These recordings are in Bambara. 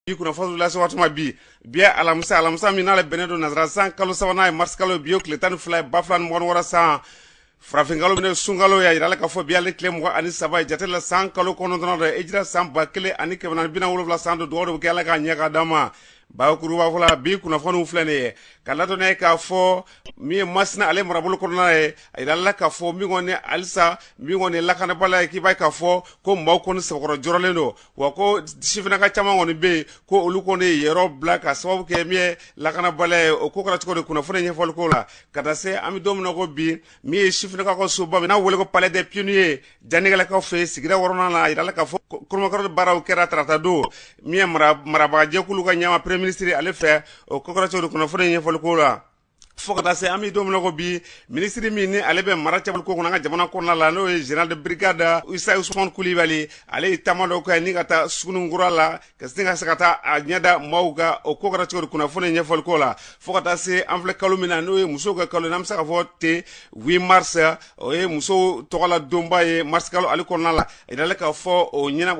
bi kunnafoni lase waati ma bi bi ye alamisa alamisa min n'ale bɛnnen don nasara san kalo sabanan ye marisi kalo ye bi o tile tan ni fila ye ba fila ni mugan ni wɔɔrɔ san farafinkalo min ye sunkalo ye a yirala k'a fɔ bi ale tile mugan ani saba ye jate la san kalo kɔnɔntɔnnan don hijira san ba kelen ani kɛmɛ naani bi naani ni wolonwula san don dugawu de bɛ kɛ ala k'a ɲɛ k'a d'a ma bakuruba fɔlɔ a bi kunnafoniw filɛ nin ye k'a ladɔnya k'a fɔ min ye masina ale marabolo kɔnɔna ye a yirala k'a fɔ min kɔni halisa min kɔni lakanabaliya ye k'i b'a ye k'a fɔ ko maaw kɔni sɛbɛkɔrɔ jɔrɔlen don wa ko sifinaka caman kɔni bɛ yen ko olu kɔni ye yɔrɔ bila ka sababu kɛ min ye lakanabaliya ye o ko kɛra cogo di kunnafoni ɲɛfɔli ko la ka taa se an bɛ don min na ko bi min ye sifinaka ka soba n'a wele ko palais des pionniers Janigɛlakaw fɛ yen sigida wɔɔrɔnan la a yirala k'a fɔ kolomakɔrɔ baaraw kɛra tarata don min ye marabagajɛkulu ka ɲɛmaa peremiye minisiri ale fɛ o ko kɛra cogo di kunnafoni in ɲɛfɔliko la fo ka taa se an bɛ don min na ko bi minisiri min ni ale bɛ mara cɛmabɔli ko kunna an ka jamana kɔnɔna la n'o ye général de brigade isa usumani kulibali ale ye taama dɔ kɛ ni ka taa suguninkura la ka sin ka se ka taa a ɲɛ da maaw kan o ko kɛra cogo di kunnafoni ɲɛfɔli ko la fo ka taa se an filɛ kalo min na n'o ye musow ka kalo n'an bɛ se ka fɔ ten huit mars o ye musow tɔgɔla donba ye mars kalo ale kɔnɔna la a yiralen k'a fɔ o ɲinan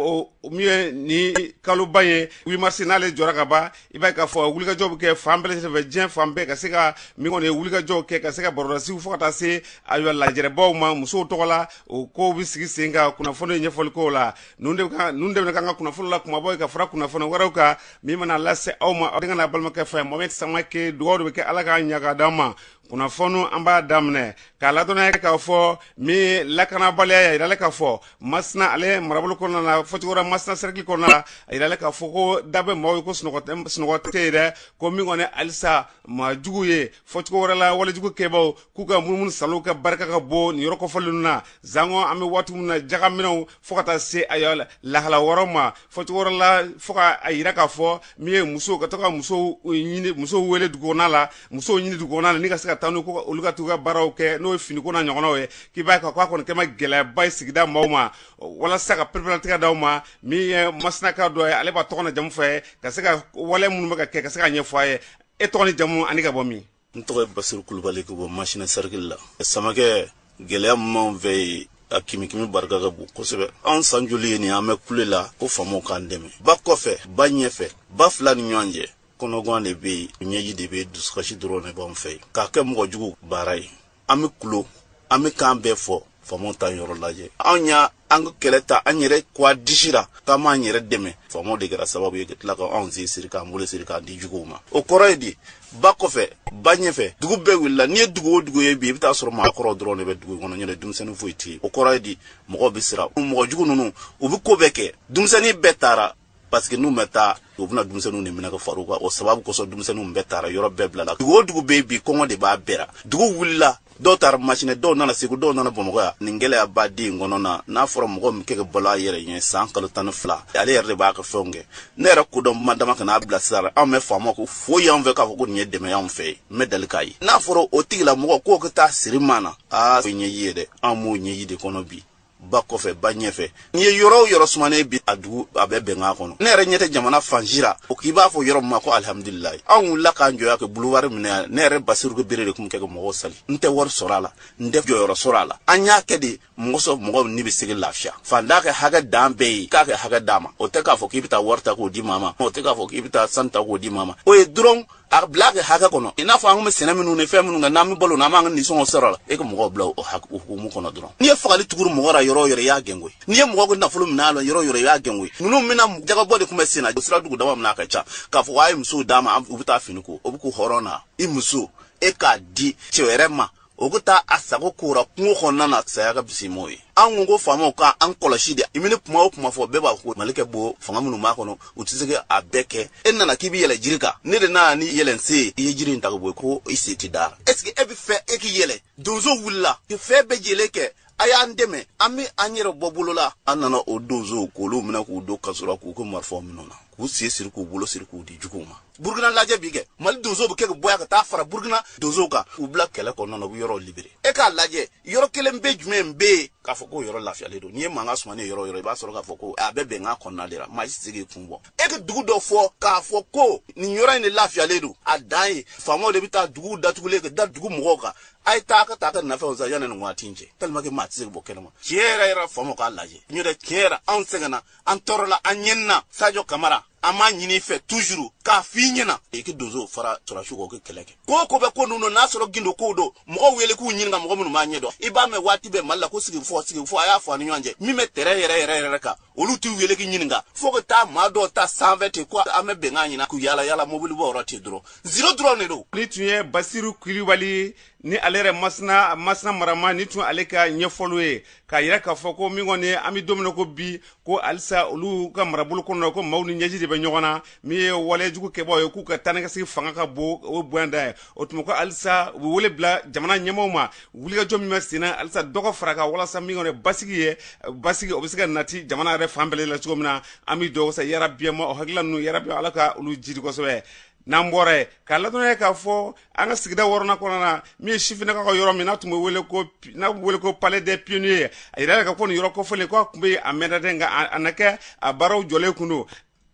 min ye nin kaloba ye huit mars n'ale jɔra ka ban i b'a k'a fɔ wulikajɔ bɛ kɛ fan bɛɛ lajɛlen fɛ diɲɛ fan bɛɛ ka se ka min kɔni ye wulikajɔw kɛ ka se ka barolasiw fo ka taa se ayiwa lajɛrɛbaw ma musow tɔgɔ la o ko bɛ sigi sen kan kunnafoni ɲɛfɔli ko la ninnu de ka ninnu de bɛ k'an ka kunnafoni la kumabaw ye ka fara kunnafoni wɛrɛw kan min bɛna lase aw ma aw denkɛ n'aw balimakɛ fɛ mohamed samakɛ dugawu de bɛ kɛ ala k'a ɲɛ k'a d'a ma kunnafoni an b'a daminɛ k'a ladɔnya k'a fɔ min lakanabaliya ye a jiralen k'a fɔ masina ale marabolo kɔnɔna na fɔcogo wɛrɛ la masina sɛrikili kɔnɔna na a jiralen k'a fɔ ko da bɛ maaw ye ko sunɔgɔ sunɔgɔ tɛ yen dɛ ko min kɔni halisa maajuguw ye fɔcogo wɛrɛ la walejugu kɛbaaw k'u ka munumunu saalo ka barika ka bon nin yɔrɔ kɔfɔlen ninnu na sanko an bɛ waati min na jagaminɛw fo ka taa se ayiwa lahala wɛrɛw ma fɔcogo wɛrɛ la fo k'a yira k'a fɔ min ye musow ka to ka musow ɲini musow wele dugukɔnɔna la musow ɲini dugukɔnɔna la ni ka se ka taa n'u ko olu ka t'u ka baaraw kɛ n'o ye finiko na ɲɔgɔnnaw ye k'i b'a ye k'a kɔni kɛma gɛlɛyaba ye sigida maaw ma walasa ka pereperelatigɛ d'aw ma min ye masinaka dɔ ye ale b'a tɔgɔ n'a jamu fɔ an ye ka se ka wale minnu bɛ ka kɛ ka se k'a ɲɛfɔ an ye e tɔgɔ ni jamu ani ka bɔ min n tɔgɔ ye basiru kulubali ka bɔ masina sɛrikili la samakɛ gɛlɛya minnu b'an fɛ yen a kimikimi barika ka bon kosɛbɛ an san joli ye nin an bɛ kule la ko faamaw k'an dɛmɛ ba kɔfɛ ba ɲɛfɛ ba fila ni ɲɔgɔn cɛ kɔnɔgan de bɛ yen ɲɛji de bɛ dusukasi dɔrɔn de b'an fɛ yen k'a kɛ mɔgɔ jugu baara ye an bɛ kulo an bɛ kan bɛɛ fɔ faamaw t'an yɔrɔ lajɛ anw y'an ka kɛlɛ ta an yɛrɛ ko a disi la k'an b'an yɛrɛ dɛmɛ faamaw de kɛra sababu ye ka tila ka anw sen siri k'an bolo siri k'an di juguw ma o kɔrɔ ye di ba kɔfɛ ba ɲɛfɛ dugu bɛɛ wulila n'i ye dugu o dugu ye bi i bɛ taa sɔrɔ maakɔrɔw dɔrɔn de bɛ dugu kɔnɔ nɔntɛ denmisɛnnin foyi tɛ yen o kɔrɔ ye di mɔgɔw bɛ siran mɔgɔ jugu ninnu u bɛ ko bɛɛ kɛ denmisɛnnin bɛɛ taara parce que n'u ma taa u bɛna denmisɛnninw de minɛ ka fara u kan o sababu kosɔn denmisɛnninw bɛɛ taara yɔrɔ bɛɛ bilala dugu o dugu bɛ yen bi kɔngɔ de b'a bɛɛ la dugu wulila dɔw taara masina dɔw nana segu dɔw nana bamakɔ yan nin gɛlɛyaba de in kɔnɔna n'a fɔra mɔgɔ min kɛ ka balo a yɛrɛ ye san kalo tan ni fila ale yɛrɛ de b'a ka fɛnw kɛ ne yɛrɛ kodɔn ma dama kana a bila sira anw ma faama ko foyi y'an fɛ k'a fɔ ko nin ye dɛmɛ y'anw fɛ yen n ma deli k'a ye n'a fɔra o tigilamɔgɔ k'o ka taa siri maa na aa o ɲɛji ye dɛ anw b'o ɲɛji de kɔnɔ bi ba kɔfɛ ba ɲɛfɛ n'i ye yɔrɔ o yɔrɔ sumanen bi a dugu a bɛ bɛnkan kɔnɔ ne yɛrɛ ɲɛ tɛ jamana fan si la o k'i b'a fɔ yɔrɔ min ma ko alihamudulilayi anw wulila k'an jɔ yan kɛ buluwari minɛ yan ne yɛrɛ basiru kulibali de tun kɛ ka mɔgɔw sali n tɛ wari sɔrɔ a la n tɛ jɔyɔrɔ sɔrɔ a la an y'a kɛ de mɔgɔ sɔrɔ mɔgɔw ni bɛ se ka lafiya faantan ka hakɛ dan bɛɛ ye k'a ka hakɛ d'a ma o tɛ k'a fɔ k'i bɛ taa wari ta k'o di maa ma o tɛ k'a fɔ k'i bɛ taa sanu ta k'o di maa ma o ye dɔrɔn a bila a ka hakɛ kɔnɔ i n'a fɔ an kun bɛ sɛnɛ minnu ni fɛn minnu kɛ n'an bɛ balo n'an b'an ka nisɔngɔ sɔrɔ a la e ka mɔgɔw bila o hukumu kɔnɔ dɔrɔn n'i ye fagali tuguru mɔgɔ la yɔrɔ o yɔrɔ i y'a gɛn koyi n'i ye mɔgɔ ka nafolo minɛ a la yɔrɔ o yɔrɔ i y'a gɛn koyi ninnu bɛna jakabɔ de tun bɛ sen na sira dugu dama min na a ka ca k'a fɔ a ye musow d'a ma u bɛ taa fini ko o bɛ kun hɔrɔn na i muso e k'a di cɛ wɛrɛ ma o ka taa a sago k'o la kungo kɔnɔna na saya ka fisa n'o ye an ko ko faamaw ka an kɔlɔsi dɛ i mana kuma o kuma fɔ bɛɛ b'a ko mali kɛ bo fanga minnu b'a kɔnɔ u tɛ se ka a bɛɛ kɛ e nana k'i bɛ yɛlɛ jiri kan ne de nana ni yɛlɛnse ye i ye jiri in ta ka bɔ yen ko i sen tɛ da est ce que e b'a fɛ e k'i yɛlɛ donsow wulila ka fɛn bɛɛ jɛlen kɛ a y'an dɛmɛ an bɛ an yɛrɛ bɔ bolo la a nana o donsow k'olu minɛ k'u don kaso la k'u ka marifaw minɛ u la k'u sen siri k'u bolo siri k'u di juguw ma burukina lajɛ bi kɛ mali donsow bɛ kɛ ka bɔya ka taa fara burukina donsow kan u bila kɛlɛ kɔnɔna na u bɛ yɔrɔ libere e k'a lajɛ yɔrɔ kelen pe jumɛn bɛ yen k'a fɔ k'o yɔrɔ lafiyalen don n'i ye mankan sumanen yɔrɔ o yɔrɔ i b'a sɔrɔ k'a fɔ ko a bɛ bɛnkan kɔnɔna de la maa si tɛ se k'i kun bɔ e ka dugu dɔ fɔ k'a fɔ ko nin yɔrɔ in de lafiyalen don a dan ye faamaw de bɛ taa duguw datugulen ka da dugu mɔgɔw kan a ye taa ka taa ka nafɛnw san yanni nin waati in cɛ tellement que maa tɛ se ka bɔ kɛnɛma tiɲɛ yɛrɛ yɛrɛ faamaw k'a lajɛ n yɛrɛ tiɲɛ yɛrɛ anw sɛgɛnna an tɔɔrɔla an ɲanina sajo kamara an b'a ɲini i fɛ toujours k'a f'i ɲɛna i ka donso fara sɔrɔdasiw kan u ka kɛlɛ kɛ ko ko bɛ ko ninnu n'a sɔrɔ gundo kow don mɔgɔw wele k'u ɲininka mɔgɔ minnu b'a ɲɛ dɔn i b'a mɛn waati bɛɛ mali la ko sigikafɔ sigikafɔ a y'a fɔ a ni ɲɔgɔn cɛ min bɛ terrain yɛrɛ yɛrɛ yɛrɛ kan olu t'u wele k'u ɲininka fo ka taa maa dɔw ta sanfɛ ten ko an bɛ bɛnkan ɲinina k'u yaala yaala mobili bɔ yɔrɔ ten dɔrɔn ziro dɔrɔn de don nin tun ye basiru kulibali ni ale yɛrɛ masina masina mara ma nin tun y'ale ka ɲɛfɔliw ye k'a yira k'a fɔ ko min kɔni an bɛ don min na ko bi ko halisa olu ka marabolo kɔnɔ ko maaw ni ɲɛji de bɛ ɲɔgɔn na min ye walejugu kɛbaaw ye k'u ka taa ni ka segin fanga ka bon o bonya da ye o tuma ko halisa u bɛ wele bila jamana ɲɛmɔgɔw ma wulikajɔ min bɛ senna halisa dɔ ka fara a kan walasa min kɔni basigi ye basigi o bɛ se ka nati jamana yɛrɛ fan bɛɛ la cogo min na an bɛ dugawu sa yarabi an ma o hakilila ninnu yarabi ala ka olu jiidi kosɛbɛ n'an bɔra ye k'a ladɔnniya k'a fɔ an ka sigida wɔɔrɔnan kɔnɔna na min ye sifinnakaw ka yɔrɔ min n'a tun bɛ wele ko n'a bɛ wele ko palais des pionniers a yirala k'a fɔ nin yɔrɔ kofɔlen k'a tun bɛ yen a mɛnna dɛ nka a na kɛ a baaraw jɔlen kun don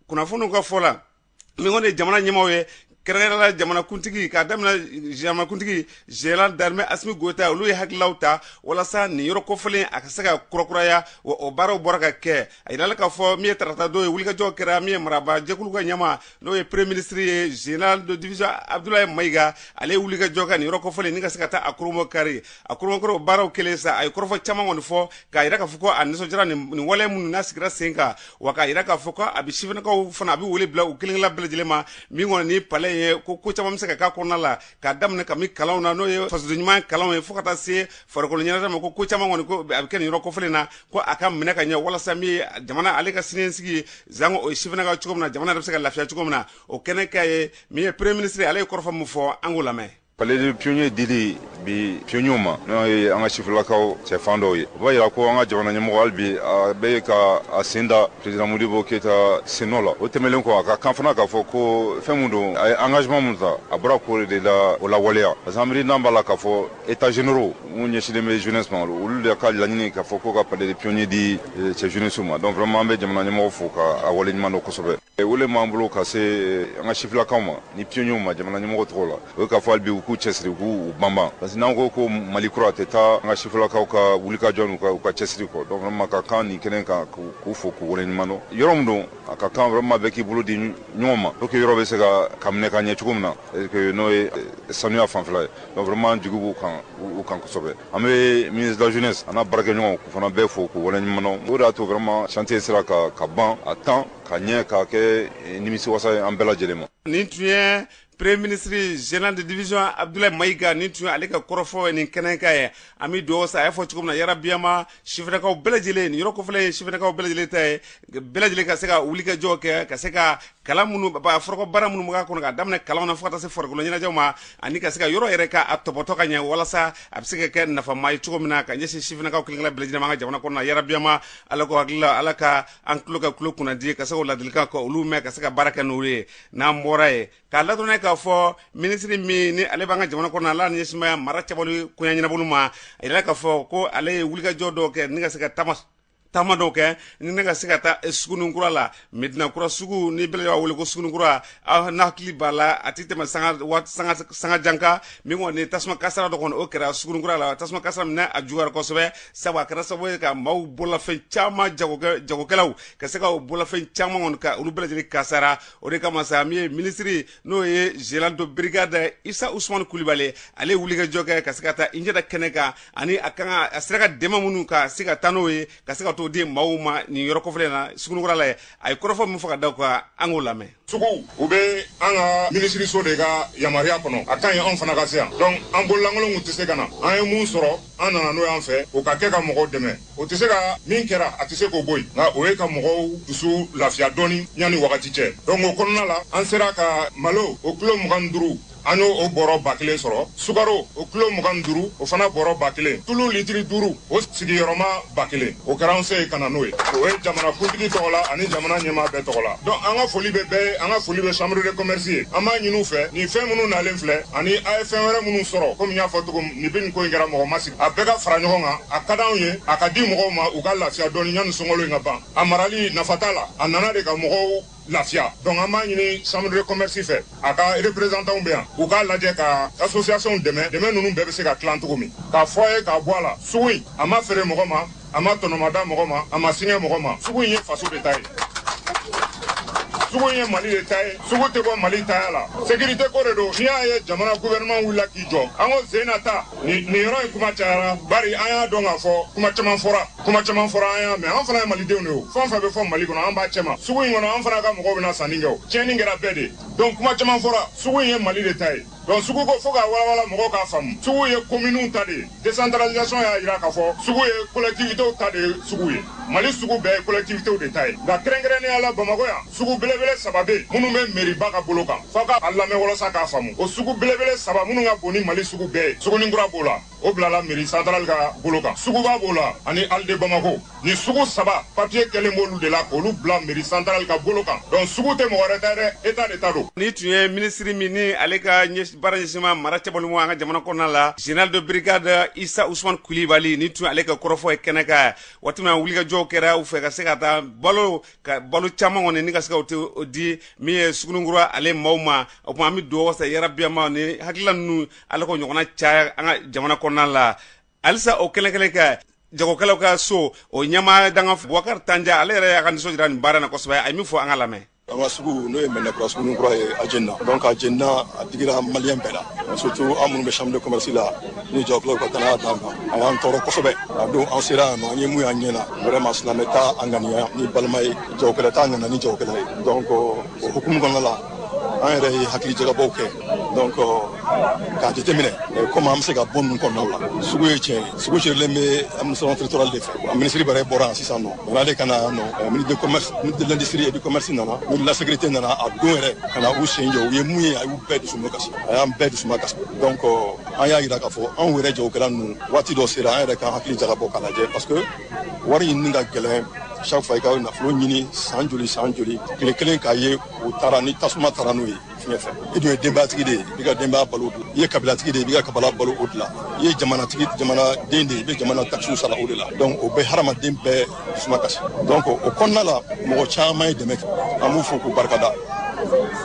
kunnafoniw ka fɔ la min kɔni ye jamana ɲɛmaaw ye kɛrɛnkɛrɛnla jamanakuntigi k'a daminɛ jamanakuntigi général d'armée assimi goïta olu ye hakililaw ta walasa nin yɔrɔ kofɔlen a ka se ka kurakuraya wa o baaraw bɔra ka kɛ a yirala k'a fɔ min ye tarata don ye wulikajɔ kɛra min ye marabaa jɛkulu ka ɲɛmaa n'o ye premier ministre ye général de division abdoulaye mayiga ale ye wulikajɔ kɛ nin yɔrɔ kofɔlen ni ka se ka taa a kurunbonkari a kurunbonkari baaraw kɛlen sa a ye kɔrɔfɔ caman kɔni fɔ k'a yira k'a fɔ ko a nisɔndiyara nin wale minnu n'a sigira sen kan wa k'a yira k'a fɔ ko a bɛ sifinnakaw fana a bɛ wele bila u kelenkelen bɛɛ lajɛlen ma min kɔni nin palais ye ko ko caman bɛ se ka k'a kɔnɔna la k'a daminɛ kabini kalanw na n'o ye fasoden ɲuman kalanw ye fo ka taa se farikolo ɲɛnajɛ ma ko ko caman kɔni ko a bɛ kɛ nin yɔrɔ kofɔlen na ko a ka minɛ ka ɲɛ walasa min ye jamana ale ka siniɲɛsigi zango o ye sifinnakaw cogo min na jamana yɛrɛ bɛ se ka lafiya cogo min na o kɛnɛ kan yen min ye premier ministre ale ye kɔrɔfɔ min fɔ an k'o lamɛn Palais des pionniers dila bi pionniers ma n'o ye an ka sifilakaw cɛ fan dɔw ye o b'a yira ko an ka jamana ɲɛmɔgɔ hali bi a bɛ ka a sen da president Modibo Keyita sennɔ la o tɛmɛnlen kɔ a ka kan fana k'a fɔ ko fɛn min don a ye engagement min ta a bɔra k'o de la o lawaleya parce que an miirina b'a la k'a fɔ états généraux minnu ɲɛsinnen bɛ jeunesse ma olu de ka laɲini k'a fɔ ko ka palais des pionniers di cɛ jeunesse ma donc vraiment an bɛ jamana ɲɛmɔgɔ fo ka a waleɲuman dɔn kosɛbɛ. wele m'an bolo ka se eh, an ka sifilakaw ma ni pionniers ma jamana ɲɛmɔgɔ tɔgɔ la o ye k'a fɔ hali bi u k'u cɛsiri u k'u banban parce que n'an ko ko mali kura tɛ taa an ka sifilakaw ka wulikajɔ n'u ka u ka cɛsiri kɔ donc vraiment ka kan nin kɛnɛ kan k'u fo k'u wale ɲuman dɔn yɔrɔ min don a ka kan vraiment bɛɛ k'i bolo di ɲɔgɔn ma pour que yɔrɔ bɛ se ka ka minɛ ka ɲɛ cogo min na n'o ye eh, sanuya fanfɛla ye donc vraiment jigi b'u kan u kan kosɛbɛ an bɛ ministre de la jeunesse an'a baarakɛɲɔgɔnw k'u fana bɛɛ fo k'u waleɲuman dɔn o de y'a to vraiment chantier sera ka ka ban à temps ka ɲɛ k'a kɛ eh, nimisiwasa ye an bɛɛ lajɛlen ma nin tun ye premier ministre général de division abdoulaye mayiga nin tun ye ale ka kɔrɔfɔ nin kɛnɛ kan yen an bɛ dugawu sa a y'a fɔ cogo min na yarabi an ma sifinnakaw bɛɛ lajɛlen nin yɔrɔ kofɔlen ye sifinnakaw bɛɛ lajɛlen ta ye bɛɛ lajɛlen ka se ka wulikajɔ kɛ ka se ka kalan minnu foroko baara minnu b'a kɔnɔ k'a daminɛ kalan na fo se farikolo ɲɛnajɛw ma ani ka se ka yɔrɔ yɛrɛ k'a topoto ka ɲɛ walasa a bɛ se ka kɛ nafama ye cogo min na ka ɲɛsin sifinnakaw kelen-kelen bɛɛ lajɛlen ma an ka jamana kɔnɔ yarabi an ma ala k'o hakilila ala ka an tulo kɛ tulo kunnandi ka se ladilikan ka olu mɛn ka se ka baara kɛ n'o ye n'an bɔra ye k'a ladɔnniya k'a fɔ minisiri min ni ale b'an ka jamana kɔnɔ ala niya mara cɛbɔ koɲɛ ɲɛnabɔli ma a yira k'a fɔ ko ale ye wulikajɔ dɔw kɛ ni ka se ka taama taama dɔw kɛ ni ne ka se ka taa eh, sugunin kura la medinakura sugu ni bɛɛ b'a wele ko sugunin kura aw n'hakili b'a la a tɛ tɛmɛ sanga waati sanga sanga jan kan min kɔni tasuma kasara dɔ kɔni o kɛra sugunin kura la tasuma kasara min n'a juguyara kosɛbɛ sabu a kɛra sababu ye ka maaw bololafɛn caman jagokɛ jagokɛlaw ka se ka o bololafɛn caman kɔni ka olu bɛɛ lajɛlen kasara o de kama sa min ye minisiri n'o ye général de brigade isa usumani kulibali ale ye wulikajɔ kɛ ka se ka taa i ɲɛ da kɛnɛ kan ani a kan a sera ka dɛmɛ minnu ka se ka taa n'o ye ka se ka t'o di maaw ma nin yɔrɔ kofɔlen na sugunikura la yen a ye kɔrɔfɔ min fɔ ka d'a kan an k'o lamɛn sugu u bɛ an ka minisiriso de ka yamaruya kɔnɔ a ka ɲi anw fana ka se yan donc an bololankolon kun tɛ se ka na an ye mun sɔrɔ an nana n'o y'an fɛ o ka kɛ ka mɔgɔw dɛmɛ o tɛ se ka min kɛra a tɛ se k'o bɔ yen nka o ye ka mɔgɔw dusu lafiya dɔɔni yanni wagati cɛ donc o kɔnɔna la an sera ka malo o kilo mugan ni duuru an y'o o bɔrɔ ba kelen sɔrɔ sukaro o kilo mugan ni duuru o fana bɔrɔ ba kelen tulu litiri duuru o sigiyɔrɔma ba kelen o kɛra an se ye ka na n'o ye o ye jamana kuntigi tɔgɔ la ani jamana ɲɛmaa bɛɛ tɔgɔ la donc an ka foli bɛ bɛɛ ye an ka foli bɛ chambre de commerce ye an b'a ɲin'u fɛ nin fɛn minnu nalen filɛ ani a ye fɛn wɛrɛ minnu sɔrɔ komi n y'a fɔ cogo min nin bɛ nin ko in kɛra mɔgɔ ma sigi a bɛɛ ka fara ɲɔgɔn kan a ka d'anw ye a ka di mɔgɔw ma u ka lafiya dɔɔni yanni sunkalo in ka ban a marali nafa t'a la a nana de ka mɔgɔw lafiya donc an b'a ɲini chambre de commerce fɛ a ka représentantw bɛ yan u k'a lajɛ ka associationw dɛmɛ dɛmɛ ninnu bɛɛ bɛ se ka tilan cogo min k'a fɔ a ye k'a bɔ a la sugu in a ma feere mɔgɔ ma a ma tɔnɔmada mɔgɔ ma a ma singa mɔgɔ ma sugu in ye faso de ta ye sugu ye mali de ta ye sugu tɛ bɔ mali taya la sécurité ko de don ni y'a ye jamana gouvernement wulila k'i jɔ an ko zena ta nin yɔrɔ in kuma cayara bari an y'a dɔn k'a fɔ kuma caman fɔra kuma caman fɔra an y'a mɛn an fana ye malidenw de ye fɛn o fɛn bɛ fɔ mali kɔnɔ an b'a cɛma sugu in kɔnɔ an fana ka mɔgɔw bɛ na sanni kɛ o tiɲɛni kɛra bɛɛ de donc kuma caman fɔra sugu in ye mali de ta ye donc sugu ko fo k'a walawala mɔgɔw k'a faamu sugu ye kominiw ta de ye décentralisation y'a jira k'a fɔ sugu ye collectivitéw ta de ye sugu ye mali sugu bɛɛ ye collectivitéw de ta ye nka kɛrɛnkɛrɛnnenya la bamakɔ yan sugu belebele saba bɛ yen minnu bɛ meriba ka bolo kan fo ka a lamɛn walasa k'a faamu o sugu belebele saba minnu ka bon ni mali sugu bɛɛ ye sugunikura b'o la o bilala meri santarali ka bolo kan suguba b'o la ani halles de bamako nin sugu saba papiye kɛlen b'olu de la k'olu bila meri santarali ka bolo kan donc sugu tɛ mɔgɔ wɛrɛ ta dɛ eta de ta don nin tun ye minisiri min ni ale ka baara ɲɛsin bɛ mara cɛbɔli ma an ka jamana kɔnɔna la général de brigade isa usman kulibali nin tun ye ale ka kɔrɔfɔ ye kɛnɛ kan waati min na wulikajɔw kɛra u fɛ ka se ka taa balo ka balo caman kɔni ni ka se ka t'o di min ye sugunikura ale maaw ma o tuma an bɛ dugawu wasa yɛrɛ biyama ni hakilila ninnu ale ko ɲɔgɔnna caya an ka jamana kɔnɔna la halisa o kɛnɛ kelen kan jagokɛlaw ka so o ɲɛmaa dankan bubakari tanja ale yɛrɛ y'a ka nisɔndiya jira nin baara na kosɛbɛ a ye min fɔ an ka lamɛn an ka sugu n'o ye mɛnɛkura suguninkura ye a jenina donc a jenina a digira maliyɛn bɛɛ la surtout an minnu bɛ chambre de commerce la ni jagokɛlaw ka danaya d'an kan a y'an tɔɔrɔ kosɛbɛ a don an sera yan nɔ an ye mun y'an ɲɛ na vraiment silamɛ t'a ŋaniya ni balima ye jagokɛla t'a ŋaniya ni jagokɛla ye donc o hukumu kɔnɔna la an yɛrɛ ye hakilijagabɔw kɛ donc k'a jateminɛ komi an bɛ se ka bɔ ninnu kɔnɔnaw la sugu ye tiɲɛ ye sugu gérélen bɛ administration territoriale de fɛ a minisiri bɛrɛ bɔra yan sisan nɔ yani ale ka na yan nɔ ministre de commerce ministre de l'industrie et du commerce nana ministre de la sécurité nana a don yɛrɛ ka na u sen jɔ u ye mun ye a y'u bɛɛ dusuma kasi a y'an bɛɛ dusuma kasi donc an y'a jira k'a fɔ anw yɛrɛ jagokɛla ninnu waati dɔ sera an yɛrɛ ka hakili jagabɔ k'a lajɛ parce que wari ɲinini ka gɛlɛn chaque fois i ka nafolo ɲini san joli san joli tile kelen k'a ye o taara ni tasuma taara n'o ye fiɲɛ fɛ i dun ye denbayatigi de ye i ka denbaya balo o de la i ye kabilatigi de ye i b'i ka kabila balo o de la i ye jamanatigi jamanaden de ye i bɛ jamana takisiw sara o de la donc o bɛ hadamaden bɛɛ dusuma kasi donc o kɔnɔna la mɔgɔ caman ye dɛmɛ kɛ an b'u fo k'u barikada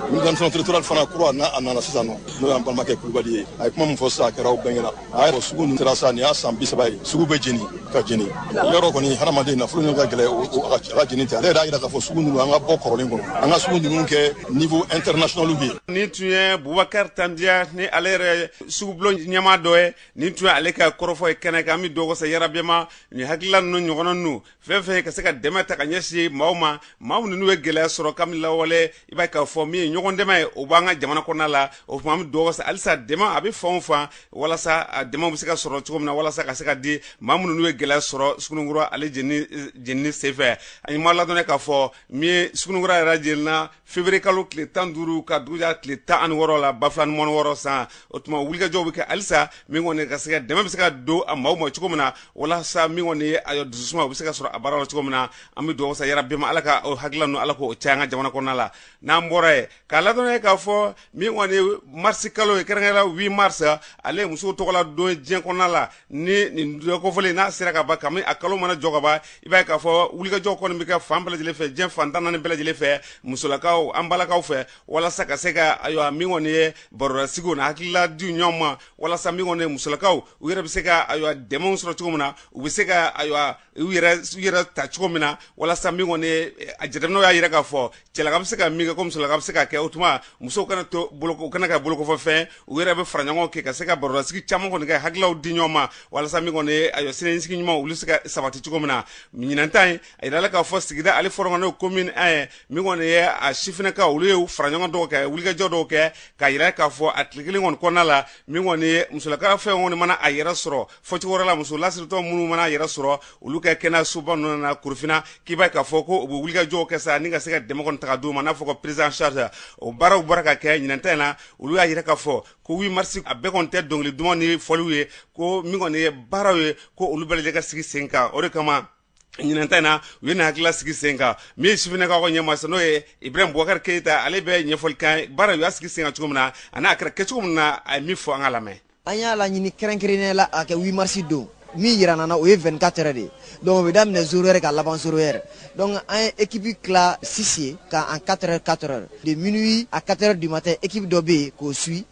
administration territoriale fana kura a nana sisan nɔ n'o y'an balimakɛ kulubali ye a ye kuma min fɔ sisan a kɛra aw bɛɛ ɲɛna a ye sugu ninnu sera sa nin y'a san bi saba ye sugu bɛ jeni ka jeni yɔrɔ kɔni hadamaden nafolo ɲini ka gɛlɛn a ka jeni ten ale yɛrɛ y'a jira k'a fɔ sugu ninnu an ka bɔ kɔrɔlen kɔnɔ an ka sugu ninnu kɛ niveau international bɛ yen nin tun ye bubakari tandiya ni ale yɛrɛ sugubulon ɲɛmaa dɔ ye nin tun ye ale ka kɔrɔfɔ ye kɛnɛ kan an bɛ dugawu kɛ sa yarabi ma nin hakilila ninnu ɲɔgɔnna ninnu fɛn fɛn ka se ka dɛmɛ ta ka ɲɛsin maaw ma maa minnu ye gɛlɛya sɔrɔ kabini lawale i b'a k'a fɔ min ye ɲɔgɔn dɛmɛ ye o b'an ka jamana kɔnɔna la o tuma an bɛ dugawu kɛ halisa dɛmɛ a bɛ fan o fan walasa a dɛmɛ bɛ se ka sɔrɔ cogo min na walasa ka se ka di maa minnu ye gɛlɛya sɔrɔ suguninkura ale jenini senfɛ an ye maa ladɔnniya k'a fɔ min ye suguninkura yɛrɛ jenina Fevrier kalo tile 15 ka dugu jɛ tile 16 la ba fila ni mugan ni wɔɔrɔ san, o tuma wulikajɔw bɛ kɛ halisa min kɔni ka se ka dɛmɛ bɛ se ka don a maaw ma cogo min na walasa min kɔni ye a dususuma o bɛ se ka sɔrɔ a baara la cogo min na, an bɛ dugawu kɛ sa yarabi ma Ala ka o hakilila ninnu Ala k'o caya an ka jamana kɔnɔna la, n'an bɔra yen k'aw ladɔnniya k'a fɔ min kɔni ye mars kalo ye kɛrɛnkɛrɛnnenya la 8 mars ale ye musow tɔgɔla don ye diɲɛ kɔnɔna la ni nin don kofɔlen n'a sera kaban kabini a kalo mana jɔ kaban i b'a ye k'a fɔ wulikajɔ kɔni bɛ kɛ fan bɛɛ lajɛlen fɛ diɲɛ fan tan ni naani bɛɛ lajɛlen fɛ musolakaw an balakaw fɛ walasa ka se ka ayiwa min kɔni ye barolasigiw na hakilila di ɲɔgɔn ma walasa min kɔni ye musolakaw u yɛrɛ bɛ se ka ayiwa dɛmɛ sɔrɔ cogo min na u bɛ se ka ayiwa u yɛrɛ ta cogo min na walasa min kɔni a jateminɛw y'a yira k'a fɔ cɛlaka bɛ se ka min kɛ ko musolaka bɛ se ka kɛ o tuma musow kana to u kana kɛ bolokɔfɛfɛn u yɛrɛ bɛ fara ɲɔgɔn kan ka se ka barosigi caman kɔni kɛ hakililaw di ɲɔgɔn ma walasa min kɔni a siniɲɛsigi ɲuman olu se ka sabati cogo min na ɲinan ta in a yirala k'a fɔ sigida ale fɔlɔ kɔni commune 1 ye min kɔni ye a sifinnakaw olu ye fara ɲɔgɔn dɔw kɛ wulikajɔ dɔw kɛ k'a yira k'a fɔ a tile kelen kɔnɔna la min kɔni musolaka fɛn kɔni mana a yɛrɛ sɔrɔ fɔcogo wɛrɛ la muso lasiritɔ minnu mana yɛrɛ sɔrɔ olu ka kɛnɛyasoba ninnu na korofina k'i b'a ye k'a fɔ ko u bɛ wulikajɔw kɛ sa ni ka se ka dɛmɛ kɔni ta k'a d'u ma n'a fɔ ko prise en charge o baaraw bɔra ka kɛ ɲinan ta in na olu y'a yira k'a fɔ ko 8 mars a bɛɛ kɔni tɛ dɔnkili duman ni fɔliw ye ko min kɔni ye baaraw ye ko olu bɛɛ lajɛlen ka sigi sen kan o de kama ɲinan ta in na u ye nin hakilila sigi sen kan min ye sifinnakaw ka ɲɛmaa n'o ye ibrahim bubakari keyita ale bɛ ɲɛfɔli kɛ baara u y'a sigi sen kan cogo min na ani a kɛra kɛcogo min na a ye min fɔ an k'a lamɛn an y'a laɲini kɛrɛnkɛrɛnnenya la a kɛ 8 marisi don min yira nana o ye 24 heures de ye donc o bɛ daminɛ 0 heure ka laban 0 heure donc an ye ekipi tila 6 ye ka en 4 heures 4 heures de minuit à 4 heures du matin ekipi dɔ bɛ yen k'o suit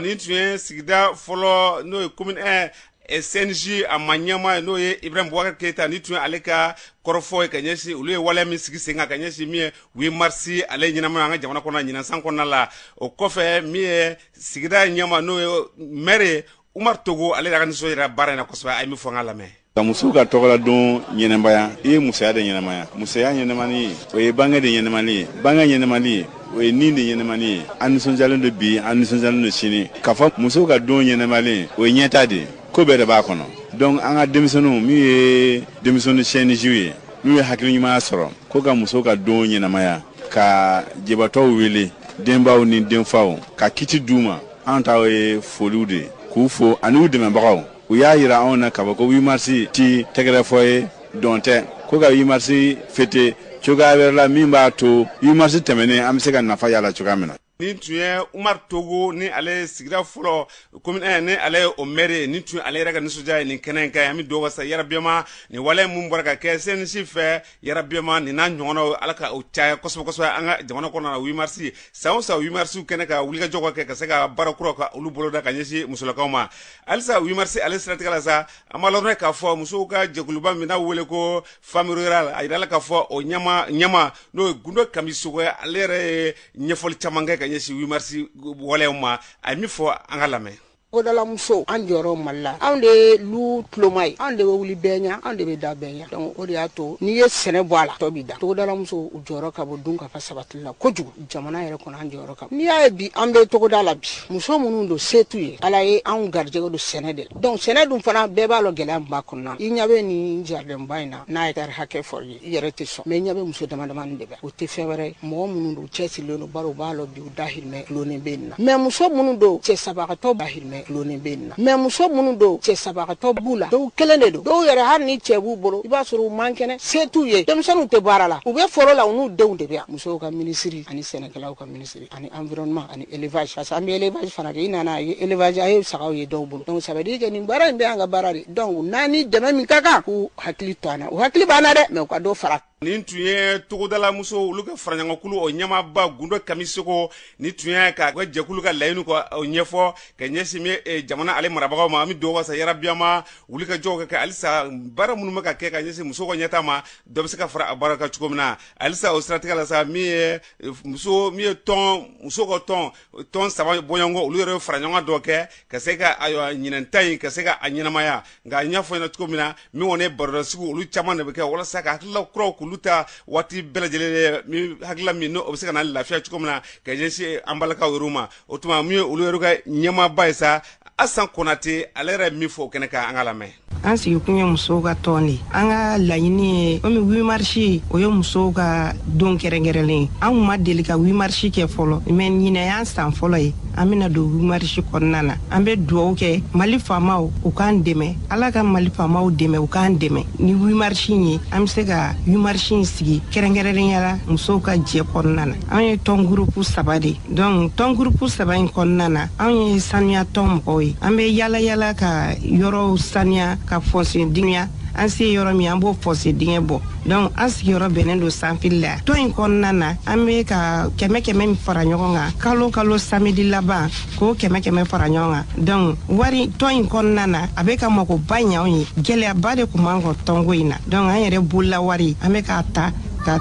Nin tun ye sigida fɔlɔ n'o ye commune 1 ɛ CNJ a ma ɲɛmaa ye n'o ye Ibrahim Boubacar Keita nin tun ye ale ka kɔrɔfɔ ye ka ɲɛsin olu ye waleya min sigi sen kan ka ɲɛsin min ye 8 mars ale ɲɛnamaya an ka jamana kɔnɔ ɲinan san kɔnɔna la o kɔfɛ min ye sigida ɲɛmaa n'o ye maire ye Umaru Togo ale de y'a ka nisɔndiya jira baara in na kosɛbɛ a ye min fɔ an k'a lamɛn ka musow ka tɔgɔladon ɲɛnamaya i ye musoya de ɲɛnamaya musoya ɲɛnamani ye o ye bange de ɲɛnamani ye bange ɲɛnamani ye o ye nin de ɲɛnamani ye an nisɔndiyalen don bi an nisɔndiyalen don sini k'a fɔ musow ka don ɲɛnamalen o ye ɲɛtaa de ye ko bɛɛ de b'a kɔnɔ donc an ka denmisɛnninw minnu ye denmisɛnnin CNJw ye minnu ye hakili ɲumanya sɔrɔ ko ka musow ka don ɲɛnamaya ka jibatɔw wele denbaw ni denfaw ka kiti d'u ma an ta ye foliw de ye k'u fo ani u dɛmɛbagaw u y'a yira anw na k'a fɔ ko 8 mars tɛ tɛgɛrɛfɔ ye dɔn tɛ ko ka 8 mars fêter cogoya wɛrɛ la min b'a to 8 mars tɛmɛnen an bɛ se ka nafa y'a la cogoya min na nin tun ye umar togo ni ale sigida fɔlɔ commune 1 ni ale ye o mɛri ye nin tun ale yɛrɛ ka nisɔndiya ye nin kɛnɛ in kan an bɛ dugawu sa yarabiyama nin wale min bɔra ka kɛ cnj fɛ yarabiyama nin n'a ɲɔgɔnnaw ala ka u caya kosɛbɛ kosɛbɛ an ka jamana kɔnɔ na wimarisi san o san wimarisiw kɛnɛ kan wulikajɔ ka kɛ ka se ka baara kuraw ka olu boloda ka ɲɛsin musolakaw ma halisa wimarisi ale siratigɛ la sa an b'a lɔrɔnɛ k'a fɔ musow ka jɛkuluba min n'a wele ko femmes rurales a yirala k'a fɔ o ɲɛmaa ɲɛmaa n'o ye gundo kamisoko ye ale yɛrɛ ye ɲɛfɔli caman kɛ ka ɲɛsin wimarisi waleyaw ma a ye min fɔ an k'a lamɛn togodalamuso an jɔyɔrɔ mali la anw de ye lu tuloma ye anw de bɛ wuli bɛɛ ɲa anw de bɛ da bɛɛ ɲa donc o de y'a to n'i ye sɛnɛ bɔ a la tɔ b'i da togodalamuso u jɔyɔrɔ ka bon dunkafa sabatili la kojugu jamana yɛrɛ kɔnɔ an jɔyɔrɔ ka bon n'i y'a ye bi an bɛ togoda la bi muso minnu don se t'u ye ala ye anw garijɛgɛ don sɛnɛ de la donc sɛnɛ dun fana bɛɛ b'a lɔ gɛlɛya min b'a kɔnɔna i ɲa bɛ nin jaridɛnba in na n'a hɛtari hakɛ fɔr'i ye i yɛrɛ tɛ sɔn mais i ɲa bɛ muso damadamani de bɛ o tɛ fɛn wɛrɛ ye mɔgɔ minnu don u cɛsirilen don bari u b'a lɔ bi dahirimɛ dulonnen bɛ nin na mais muso minnu don cɛ sabagatɔ dahirimɛ dulonnen bɛ nin na mais muso minnu don cɛ sabagatɔ b'u la dɔw kelen de don dɔw yɛrɛ hali ni cɛ b'u bolo i b'a sɔrɔ u man kɛnɛ se t'u ye denmisɛnninw tɛ baara la u bɛ foro la u n'u denw de bɛ yan musow ka minisiri ani sɛnɛkɛlaw ka minisiri ani environnement ani élevage parce que an bɛ élevage fana kɛ i nana a ye élevage a ye sagaw ye dɔw bolo donc ça veut dire que nin baara in bɛɛ an ka baara de donc n'an ni dɛmɛ min ka kan k'u hakili to an na u hakili b'an na dɛ mais u ka dɔ fara nin tun ye togodalamuso olu ka faraɲɔgɔnkulu o ɲɛmaaba gundo kamisoko ni tun y'a ka ka jɛkulu ka laɲini ka o ɲɛfɔ ka ɲɛsin bɛ eh, jamana ale marabagaw ma an bɛ dugawu wasa yarabiyama wulikajɔw ka kɛ halisa baara minnu bɛ ka kɛ ka ɲɛsin muso ka ɲɛtaa ma dɔ bɛ se ka fara a baara kan cogo min na halisa o siratigɛ la sa min ye eh, muso min ye tɔn muso ka tɔn tɔn saba bɔɲɔgɔnkɔ olu yɛrɛ faraɲɔgɔnkan dɔ kɛ ka se ka ayiwa ɲinan ta in ka se ka a ɲɛnamaya nka n y'a fɔ ɲɛna cogo min na min kɔni ye barodasigiw olu caman de bɛ kɛ walasa ka hakilila kuraw k'olu ta waati bɛɛ lajɛlen min hakilila min n'o bɛ se ka na lafiya cogo min na ka ɲɛsin an balakaw yɛrɛ ma o tuma min ye olu yɛrɛ ka ɲɛmaaba ye sa asan konate ale yɛrɛ min fɔ o kɛnɛ kan an k'a lamɛn an sigikun ye musow ka tɔn de an ka laɲini ye komi wimarisi o ye musow ka don kɛrɛnkɛrɛnlen an kun ma deli ka wimarisi kɛ fɔlɔ mɛ ɲinan y'an san fɔlɔ ye an bena don wimarisi kɔnɔna na an be duwawu kɛ mali faamaw u k'an dɛmɛ ala ka mali faamaw dɛmɛ u k'an dɛmɛ ni wimarisi ye an be se ka wimarisi sigi kɛrɛnkɛrɛnnenya la musow ka jɛ kɔnɔna na an ye tɔn gurupu saba de donc tɔn gurupu saba in kɔnɔna na an ye saniya tɔn mɔgɔw ye an bɛ yala yala ka yɔrɔw saniya ka fɔse dingɛ an se yɔrɔ min an b'o fɔse dingɛ bɔ donc an sigiyɔrɔ bɛnnen don sanfili la tɔn in kɔnɔna na an bɛ ka kɛmɛ kɛmɛ min fara ɲɔgɔn kan kalo kalo samedi laban k'o kɛmɛ kɛmɛ fara ɲɔgɔn kan donc wari tɔn in kɔnɔna na a bɛ ka makoba ɲɛ anw ye gɛlɛyaba de tun b'an kan tɔnko in na donc an yɛrɛ bolola wari an bɛ k'a ta ka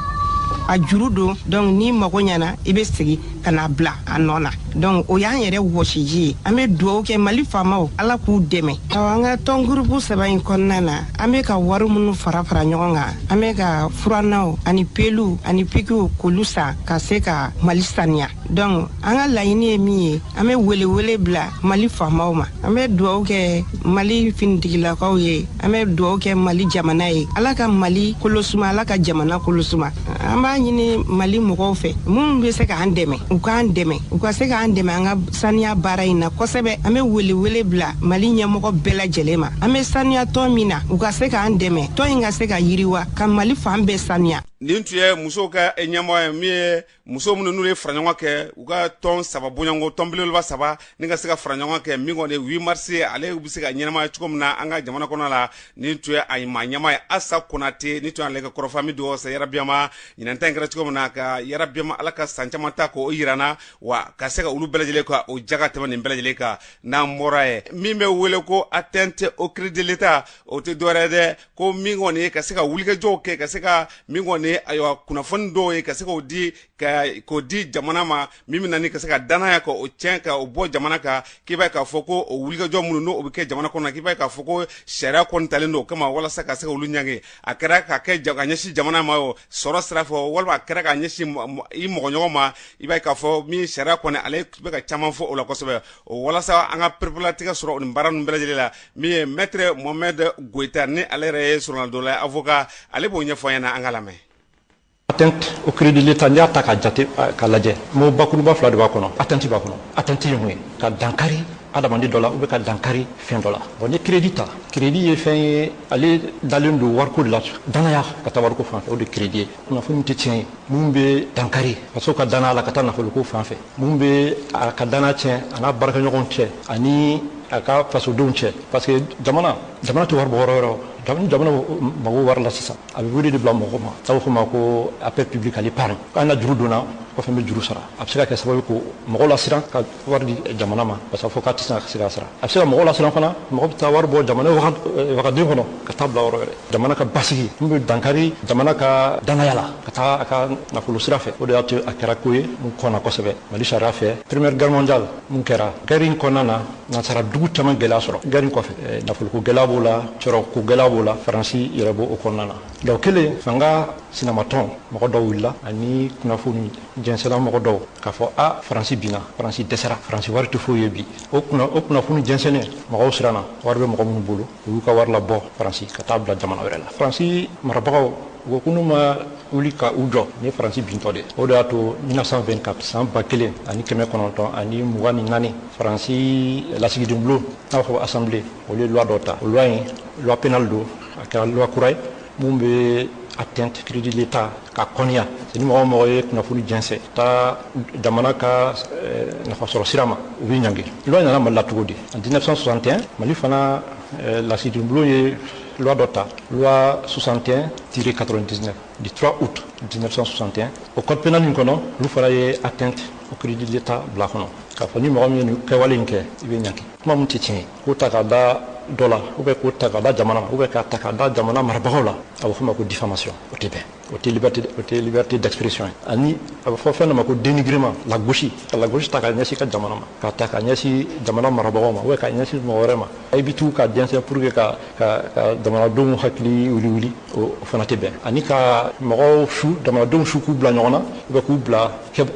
a juru don donc ni mago ɲana i be segi ka n'a bila a nɔ na donc o y'an yɛrɛ wɔsiji ye an be duwawu kɛ mali faamaw ala k'u dɛmɛ awa an ka tɔn gurupu saba in kɔnɔna na an be ka wari minnu fara fara ɲɔgɔn kan an be ka furanaw ani peluw ani pikiw k'olu san ka se ka mali saniya donc an ka laɲini ye min ye an bɛ welewele bila mali faamaw ma an bɛ dugawu kɛ mali finitigilakaw ye an bɛ dugawu kɛ mali jamana ye ala ka mali kolosuma ala ka jamana kolosuma an b'a ɲini mali mɔgɔw fɛ minnu bɛ se k'an dɛmɛ u k'an dɛmɛ u ka se k'an dɛmɛ an ka saniya baara in na kosɛbɛ an bɛ welewele bila mali ɲɛmɔgɔ bɛɛ lajɛlen ma an bɛ saniya tɔn min na u ka se k'an dɛmɛ tɔn in ka se ka yiriwa ka mali fan bɛɛ saniya nin tun ye musow ka ɲɛmɔgɔ ye min ye muso minnu n'u ye faraɲɔgɔn kɛ u ka tɔn saba bɔɲɔgɔnko tɔn belebeleba saba ni ka se ka faraɲɔgɔn kɛ min kɔni 8 mars ale bɛ se ka ɲɛnamaya cogo min na an ka jamana kɔnɔ la nin tun ye a maa ɲɛmaa ye asa konate nin tun y'ale ka kɔrɔfɔ min don sa yarabi a ma ɲinan ta in kɛra cogo min na ka yarabi a ma ala ka san caman ta k'o jira an na wa ka se ka olu bɛɛ lajɛlen ka o jaga tɛmɛn nin bɛɛ lajɛlen kan n'an bɔra yen min bɛ wele ko atteinte au crédit de l'état o tɛ dɔwɛrɛ dɛ ko min kɔni ye ka se ka wulikajɔw kɛ ka se ka min kɔni ye ayiwa kunnafoni dɔw ye ka se k'o di ka k'o di jamana ma min bɛ na ni ka se ka danaya ka o tiɲɛ ka o bɔ jamana kan k'i b'a ye k'a fɔ ko o wulikajɔ minnu n'o bɛ kɛ jamana kɔnɔ k'i b'a ye k'a fɔ ko sariya kɔni talen don o kama walasa ka se ka olu ɲangi a kɛra ka kɛ ka ɲɛsin jamana ma o sɔrɔ sira fɛ walima a kɛra ka ɲɛsin i mɔgɔɲɔgɔn ma i b'a ye k'a fɔ min sariya kɔni ale bɛ ka caman fɔ o la kosɛbɛ o walasa an ka pereperelatigɛ sɔrɔ nin baara ninnu bɛɛ lajɛlen la min ye maître mohamed goyita ni ale yɛrɛ ye soronadonna ye avocat ale b'o ɲɛfɔ an ɲɛna an ka lamɛn atteinte au crédit de l'état n'i y'a ta k'a jate k'a lajɛ mot bakuruba fila de b'a kɔnɔ atteinte b'a kɔnɔ atteinte ye mun ye ka dankari adamaden dɔ la ou bien ka dankari fɛn dɔ la bon n'i crédit ta crédit ye fɛn ye ale dalen don wariko de la danaya ka taa wariko fan fɛ o de crédit ye kunnafoni tɛ tiɲɛ ye min bɛ dankari faso ka danaya la ka taa nafoloko fan fɛ min bɛ a ka danaya tiɲɛ a n'a baarakɛɲɔgɔnw cɛ ani a ka fasodenw cɛ parce que jamana jamana tɛ wari bɔ yɔrɔ wɛrɛ jamana mago wari la sisan a bɛ wele de bila mɔgɔ ma n'a bɛ fɔ a ma ko appel public à l'épargne k'a na juru don n na kɔfɛ n bɛ juru sara a bɛ se ka kɛ sababu ka mɔgɔ lasiran ka wari di jamana ma parce que fɔ k'a tɛ se ka se ka sara a bɛ se ka mɔgɔ lasiran fana mɔgɔ bɛ taa wari bɔ jamana wagande kɔnɔ ka taa bila yɔrɔ wɛrɛ jamana ka basigi min bɛ dankari jamana ka danaya la ka taga a ka nafolo sira fɛ o de y'a to a kɛra ko ye min kɔnna kosɛbɛ mali sariya fɛ première guerre mondiale min kɛra guerre in kɔnɔna na nansara dugu caman gɛlɛya sɔrɔ guerre in kɔfɛ eh, nafoloko gɛlɛya b'o la sɔrɔko gɛlɛya b'o la faransi yɛrɛ b'o o kɔnɔna na don kelen fanga sinamatɔn mɔgɔ dɔw wulila ani kunnafoni jɛnsɛnna mɔgɔ dɔw k'a fɔ a faransi binna faransi dɛsɛra faransi wari tɛ foyi ye bi o kunnafoni jɛnsɛnnen mɔgɔw siranna wari bɛ mɔgɔ minnu bolo u y'u ka wari labɔ faransi ka taa bila jamana wɛrɛ la faransi marabagaw u ko ko n'u ma wuli ka u jɔ ni faransi bintɔ de o de y'a to 1924 san ba kelen ani kɛmɛ kɔnɔntɔn ani mugan ni naani faransi lasigiden bulon n'a b'a fɔ assemblée olu ye loi dɔ ta o loi in loi pénale don a kɛra loi kura ye min bɛ atteinte crédit de l'Etat ka kɔniya ni mɔgɔ o mɔgɔ ye kunnafoni jɛnsɛn taa jamana ka eh, nafasɔrɔ sira ma u bɛ ɲangi loi nana mali la cogo di en 1961 mali fana eh, lasigidenbulon ye loi dɔ ta loi 61 tiret 99 du 3 août 1961 o code pénal in kɔnɔ olu fana ye atteinte au crédit de l'Etat bila kɔnɔ k'a fɔ ni mɔgɔ min ye nin kɛwale in kɛ i bɛ ɲangi kuma min tɛ tiɲɛ ye k'o ta k'a da dɔ la ou bien k'o ta k'a da jamana ma ou bien k'a ta k'a da jamana marabagaw la a bɛ fɔ ma ko diffamation o tɛ bɛn o tɛ liberté o tɛ liberté d'expression ye ani a bɛ fɔ fɛn dɔ ma ko dénigrement lagosi ka lagosi ta k'a ɲɛsin ka jamana ma k'a ta k'a ɲɛsin jamana marabagaw ma ou bien k'a ɲɛsin mɔgɔ wɛrɛ ma i bɛ tugu k'a jɛnsɛn pour que ka ka ka jamanadenw hakili wuli wuli o fana tɛ bɛn ani ka mɔgɔw su jamanadenw su k'u bila ɲɔgɔn na ou bien k'u bila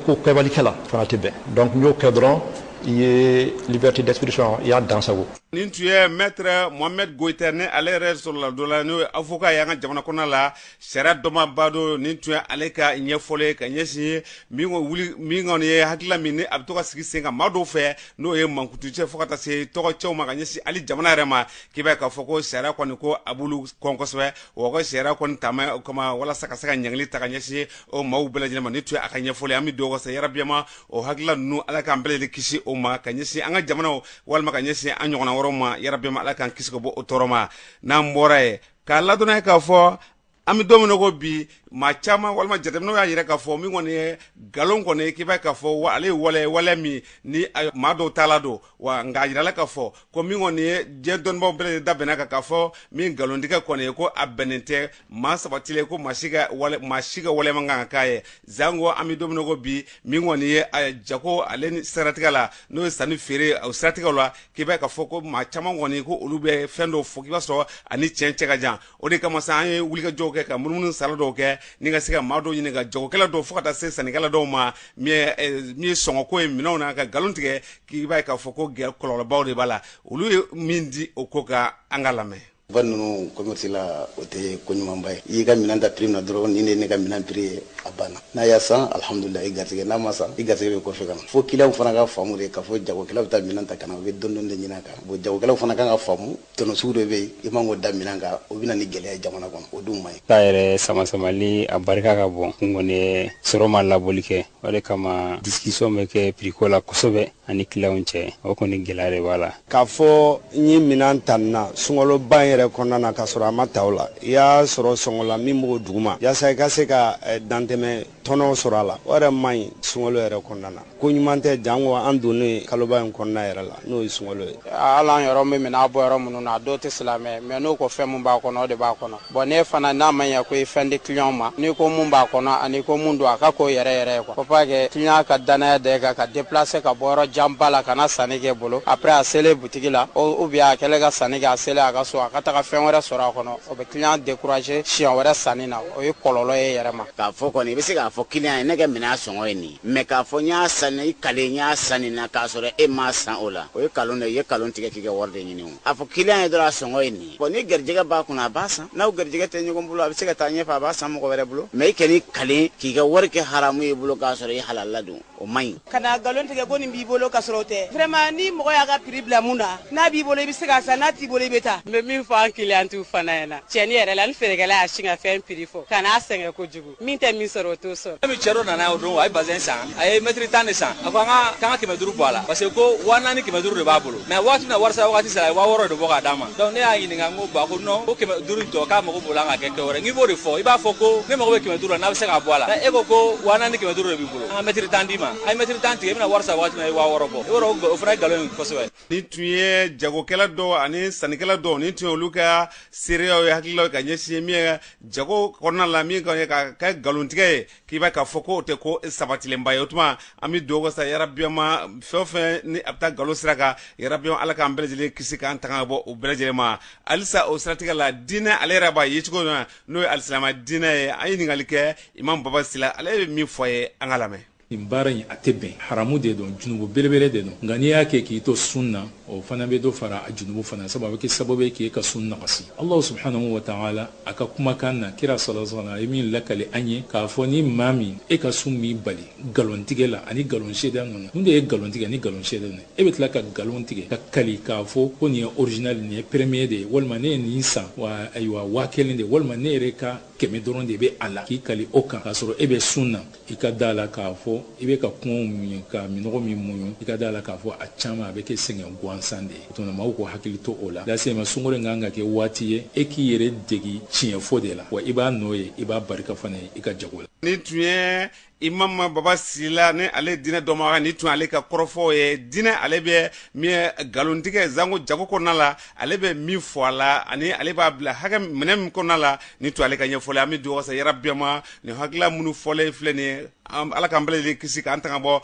ko kɛbali kɛ la fana tɛ bɛn donc n'i y'o kɛ dɔrɔn i ye liberté d'expression i y'a dansagon nin tun ye maître mohamed goita ni ale yɛrɛ soroladonna n'o ye avocat ye an ka jamana kɔnɔna la sariya dɔnbaa don nin tun ye ale ka ɲɛfɔli ye ka ɲɛsin min wuli min kɔni ye hakilila min ni a bɛ to ka sigi sen kan maa dɔw fɛ n'o ye mankutucɛn fo ka taa se tɔgɔcɛnw ma ka ɲɛsin hali jamana yɛrɛ ma k'i b'a ye k'a fɔ ko sariya kɔni ko a b'olu kɔn kosɛbɛ wa ka sariya kɔni taama kama walasa ka se ka ɲangili ta ka ɲɛsin o maaw bɛɛ lajɛlen ma nin tun ye a ka ɲɛfɔli ye an bɛ dugawu kɛ sa yarabi ma o hakilila ninnu ala k'an bɛɛ lajɛlen kisi o ma ka ɲɛsin an ka jamanaw walima ka ɲɛsin an ɲɔgɔnna wɛrɛw ma yarabi ma ala k'an kisi ka bɔ o tɔɔrɔ ma n'an bɔra yen k'a ladɔn aw ye k'a fɔ an bɛ don min na ko bi maa caman walima jateminɛw y'a yira k'a fɔ min kɔni ye nkalon kɔni k'i b'a ye k'a fɔ ale ye wale wale min ni maa dɔw taalan don wa nka a yirala k'a fɔ ko min kɔni ye diɲɛ dɔnnibaaw bɛɛ lajɛlen da bɛnna a kan k'a fɔ min nkalontigɛ kɔni ye ko a bɛnnen tɛ maa sabatilen ko maa si ka wale maa si ka waleya man kan ka k'a ye zango an bɛ don min na ko bi min kɔni ye a jago ale ni siratigɛ la n'o ye sanni feere o siratigɛw la k'i b'a ye k'a fɔ ko maa caman kɔni ko olu bɛ fɛn dɔw fɔ k'i b'a sɔrɔ a ni tiɲɛ cɛ ka jan o de kama sa an ye wulikajɔw kɛ ka munumunu sala dɔw kɛ ni ka se ka maa dɔw ɲininka jagokɛla dɔw fo ka taa se sannikɛla dɔw ma min ye eh, sɔngɔko ye minɛnw na ka nkalon tigɛ k'i b'a ye k'a fɔ ko gɛrɛ kɔlɔlɔbaw de b'a la olu ye min di o ko kan an k'a lamɛn va ninnu commerce la o tɛ ko ɲumanba ye i y'i ka minɛn ta prix min na dɔrɔn nin de ne ka minɛn prix ye a banna n'a y'a san alhamdulila i garisɛgɛ n'a ma san i garisɛgɛ bɛ kɔfɛ ka na fo kiliyanw fana k'a faamu de k'a fɔ jagokɛla bɛ taa minɛn ta ka na u bɛ dɔni dɔni de ɲini a kan bon jagokɛlaw fana kan k'a faamu tɔnɔ sugu dɔ bɛ yen i man k'o da minɛn kan o bɛ na ni gɛlɛya ye jamana kɔnɔ o dun man ɲi. ta yɛrɛ samasamali a barika ka bon n kɔni sɔrɔ ma laboli kɛ o de kama discussion bɛ kɛ prix ko la kosɛbɛ an ni kiliyanw cɛ o kɔni gɛlɛya de b'a la. k'a fɔ n ye minɛn ta nin na sunkaloba in yɛrɛ kɔnɔna na k'a sɔrɔ a ma ta o la i y'a sɔrɔ sɔngɔ la min b'o duguma yaasa i ka se ka eh, dantɛmɛ tɔnɔ sɔrɔ a la o yɛrɛ man ɲi sunkalo yɛrɛ kɔnɔna na ko ɲuman tɛ janko an donnen kaloba in kɔnɔna yɛrɛ la n'o ye sunkalo ye hali an yɛrɛ bɛ minɛn bɔ yɔrɔ minnu na a dɔw tɛ silamɛ mais n'u ko fɛn min b'a kɔnɔ o de b'a kɔnɔ bon ne fana n'a ma ɲɛ ko i fɛn di kiliyan ma n'i ko mun b'a kɔnɔ ani ko mun don a ka k'o yɛrɛ yɛrɛ ye quoi faut pas que kiliyan ka dannaya da e kan ka déplacer ka bɔ yɔrɔ janba la ka na sanni k'i bolo après a selen butigi la ou bien a kɛlen ka sanni kɛ a selen a ka so a ka taga fɛn wɛrɛ sɔrɔ a kɔnɔ o bɛ kiliyan décourager siɲɛ wɛrɛ sanni na o ye kɔlɔlɔ ye i yɛrɛ ma k'a fɔ kɔni i bɛ se k'a fɔ kiliyan ye ne ka minɛn sɔngɔ ye nin mais k'a fɔ n y'a san i kali n y'a san nin na k'a sɔrɔ e m'a san o la o ye kalon de ye i ye kalon tigɛ k'i ka wari de ɲini o a fɔ kiliyan ye dɔrɔn a sɔngɔ ye nin bon n'i garijɛgɛ b'a kunna a b'a san n'aw garijɛgɛ tɛ ɲɔgɔn bolo a bɛ se ka taa ɲɛfɛ a b'a san mɔgɔ wɛrɛ bolo mais i kan'i kali k'i ka wari kɛ haramu y'i bolo k'a sɔrɔ i halala don o man ɲi kana galon tigɛ ko nin b'i bolo k'a sɔrɔ o tɛ vraiment ni mɔgɔ y'a ka prix bila min na n'a b'i bolo i bɛ se k'a san n'a t'i bolo i bɛ taa n bɛ min fɔ an kiliyantiw fana ɲɛna tiɲɛ yɛrɛ la ni feerekɛla y'a sin ka fɛn prix fɔ kan'a sɛgɛn kojugu min tɛ min sɔrɔ o t'o sɔrɔ fɛn min cɛ dɔ nana o don a ye bazɛn san a ye mɛtiri tan de san a ko an ka k'an ka kɛmɛ duuru bɔ a la parce que ko waa naani kɛmɛ duuru de b'a bolo mais waati min na warisara wagati sera a ye waa wɔɔrɔ de bɔ k'a d'a ma donc ne y'a ɲininka n ko bon a ko non ko kɛmɛ duuru in tɔ k'a mago b'o la ka kɛ kɛ wɛrɛ n k'i b'o de fɔ i b'a fɔ ko ne mago bɛ kɛmɛ duuru la n'a bɛ se k'a bɔ a la e ko ko waa naani kɛmɛ duuru de b'i bolo an ka mɛtiri tan d'i ma a ye mɛtiri tan tigɛ i bɛna wari sara waati min na i ye waa wɔɔrɔ bɔ i b'a dɔn o fana ye nkalon ye kosɛbɛ nin tun ye jagokɛla dɔw ani sannikɛla dɔw nin tun ye olu ka seereyaw ye hakililaw ye ka ɲɛsin min ye jago kɔnɔna la min ka ye ka kɛ nkalontigɛ ye k'i b'a k'a fɔ ko o tɛ ko sabatilenba ye o tuma an bɛ dugawu kɛ sa yarabiyama fɛn o fɛn ni a bɛ taa nkalon sira kan yarabiyama ala k'an bɛɛ lajɛlen kisi k'an tanga ka bɔ o bɛɛ lajɛlen ma halisa o siratigɛ la diinɛ ale yɛrɛ b'a ye cogo min na n'o ye alisilama diinɛ ye an ye ɲininkali kɛ imam baba sila ale bɛ min fɔ a ye an k'a lamɛn nin baara in a tɛ bɛn haramu de don junubu belebele de don nka n'i y'a kɛ k'i to sun na o fana bɛ dɔ fara a junubu fana sabu a bɛ kɛ sababu ye k'e ka sun nagasi allahu subhanahu wa taala a ka kumakan na kira sallallahu alaihi wa sallam a ye min lakali an ye k'a fɔ ni maa min e ka sun b'i bali nkalon tigɛ la ani nkalon seereya ninnu mun de ye nkalon tigɛ ni nkalon seereya ninnu e bɛ tila ka nkalon tigɛ ka kali k'a fɔ ko nin ye original nin ye premier de ye walima ne ye nin san wa ayiwa waa kelen de walima ne yɛrɛ ka kɛmɛ dɔrɔn de bɛ a la k'i kali o kan k'a sɔrɔ e bɛ sun na i ka d'a la k'a fɔ i bɛ ka kɔngɔ muɲu ka minnɔgɔ min muɲu i ka d'a la k'a fɔ a caman a bɛ kɛ sɛgɛn gansan de ye o tuma maaw k'u hakili to o la lasiyama sunkalo in kan ka kɛ waati ye e k'i yɛrɛ degi tiɲɛfɔ de la wa i b'a nɔ ye i b'a barika fana ye i ka jago la nin tun ye imam baba sila ni ale diinɛ dɔnbaga nin tun ale ka kɔrɔfɔw ye diinɛ ale bɛ min ye nkalontigɛ janko jago kɔnɔna la ale bɛ min fɔ a la ani ale b'a bila hakɛ minɛ min kɔnɔna la nin tun ale ka ɲɛfɔli an bɛ dugawu kɛ sa yarabiyama nin hakilila minnu fɔlen filɛ nin ye ala k'an bɛɛ kisi k'an tanga bɔ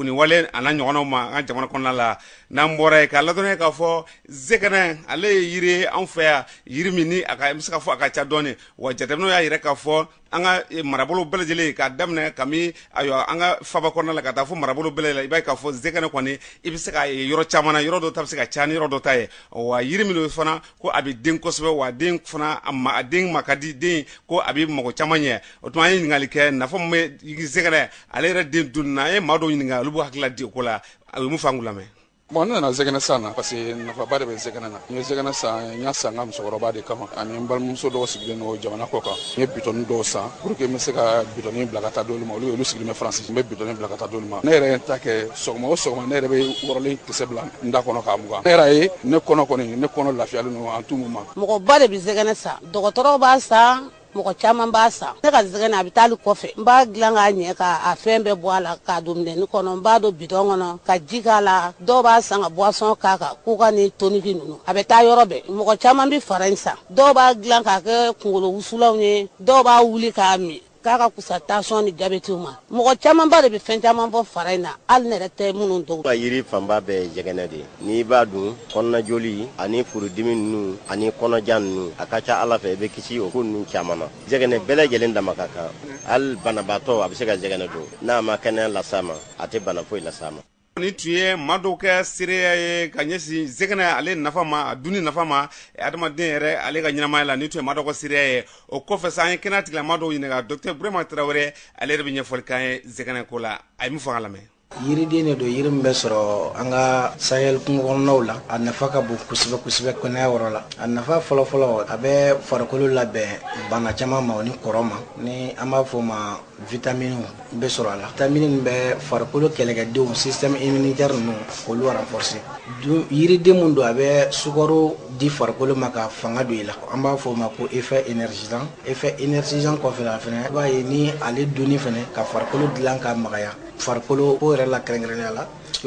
nin wale n'a ɲɔgɔnw ma an ka jamana kɔnɔna la n'an bɔra yen k'a ladɔnniya k'a fɔ zɛgɛnɛ ale ye yiri ye an fɛ yan yiri min a bɛ se ka fɔ a ka ca dɔɔnin wa jatew y'a yira k'a fɔ an ka eh, marabolo bɛɛ lajɛlen k'a daminɛ kami ayiwa an ka faba kɔnɔna la ka taa fo marabolo bɛɛ lajɛlen i b'a ye k'a fɔ zɛgɛnɛ kɔni i bɛ se k'a ye yɔrɔ caman na yɔrɔ dɔ ta bɛ se ka ca ni yɔrɔ dɔ ta ye wa yiri min don fana ko a bɛ den kosɛbɛ wa den fana a den ma ka di den ko a bɛ mɔgɔ caman ɲɛ o tuma an ye ɲininkali kɛ nafa min bɛ zɛgɛnɛ ale yɛrɛ den dun na an ye maa dɔw ɲininka olu b'u hakili di o ko la a bɛ mun fɔ an k'u lamɛn Bon ne nana zɛgɛnɛ san na parce que nafaba de bɛ zɛgɛnɛ na n ye zɛgɛnɛ san n y'a san n ka musokɔrɔba de kama ani n balimamuso dɔw sigilen don jamana kɔ kan n ye bitɔni dɔw san pour que n bɛ se ka bitɔni bila ka taa d'olu ma olu olu sigilen bɛ faransi n bɛ bitɔni bila ka taa d'olu ma ne yɛrɛ ye n ta kɛ sɔgɔma o sɔgɔma ne yɛrɛ bɛ wɔrɔlen kisɛ bila n da kɔnɔ k'a mugan ne yɛrɛ ye ne kɔnɔ kɔni ne kɔnɔ lafiyalen don en tout moment mɔgɔba de bɛ zɛgɛnɛ san dɔgɔtɔrɔw b'a san mɔgɔ caman b'a san ne ka zɛgɛnɛ a bɛ taa kɔfɛ n b'a dilan k'a ɲɛ k'a fɛn bɛɛ bɔ a la k'a don minɛni kɔnɔ n b'a don bidɔn kɔnɔ ka ji k'a la dɔw b'a san ka boisson k'a kan koka ni toniki ninnu a bɛ taa yɔrɔ bɛɛ mɔgɔ caman bɛ fara in san dɔw b'a dilan k'a kɛ kunkolo wusulanw ye dɔw b'a wuli k'a min k'a ka kusa tansiyɔn ni jabɛtiw ma mɔgɔ camanba de bɛ fɛn caman bɔ fara in na hali ne yɛrɛ tɛ minnu dɔn ka yiri fanba bɛɛ ye jɛgɛnɛ de n'i b'a dun kɔnɔnajoli ani furudimi ninnu ani kɔnɔja ninnu a ka ca ala fɛ i bɛ kisi o ko ninnu caman ma jɛgɛnɛ bɛɛ lajɛlen dama ka kan hali banabaatɔ a bɛ se ka jɛgɛnɛ dun n'a ma kɛnɛya las'a ma a tɛ bana foyi las'a ma Nin tun ye maa dɔw ka seereya ye ka ɲɛsin zɛgɛnɛ ale nafa ma a dunni nafa ma adamaden yɛrɛ ale ka ɲɛnamaya la nin tun ye maa dɔw ka seereya ye o kɔfɛ sa an ye kɛnɛya tigilamaa dɔw ɲininka docteur burema tarawele ale yɛrɛ bɛ ɲɛfɔli k'an ye zɛgɛnɛ ko la a ye min fɔ an k'a lamɛn yiriden de don yiri min bɛ sɔrɔ an ka Sahel kungo kɔnɔnaw la a nafa ka bon kosɛbɛ kosɛbɛ kɛnɛya yɔrɔ la a nafa fɔlɔfɔlɔ a bɛ farikolo labɛn bana caman ma ni kɔrɔ ma ni an b'a fɔ o ma vitamini bɛ sɔrɔ a la vitamini min bɛ farikolo kɛlɛkɛdenw système immunitaire ninnu k'olu renforcer donc yiriden min don a bɛ sukaro di farikolo ma ka fanga don i la an b'a fɔ o ma ko effet énergisant effet énergisant kɔfɛ a fana i b'a ye ni ale dunni fana ka farikolo dilan ka magaya farikolo ko yɛrɛ la kɛrɛnkɛrɛnnenya la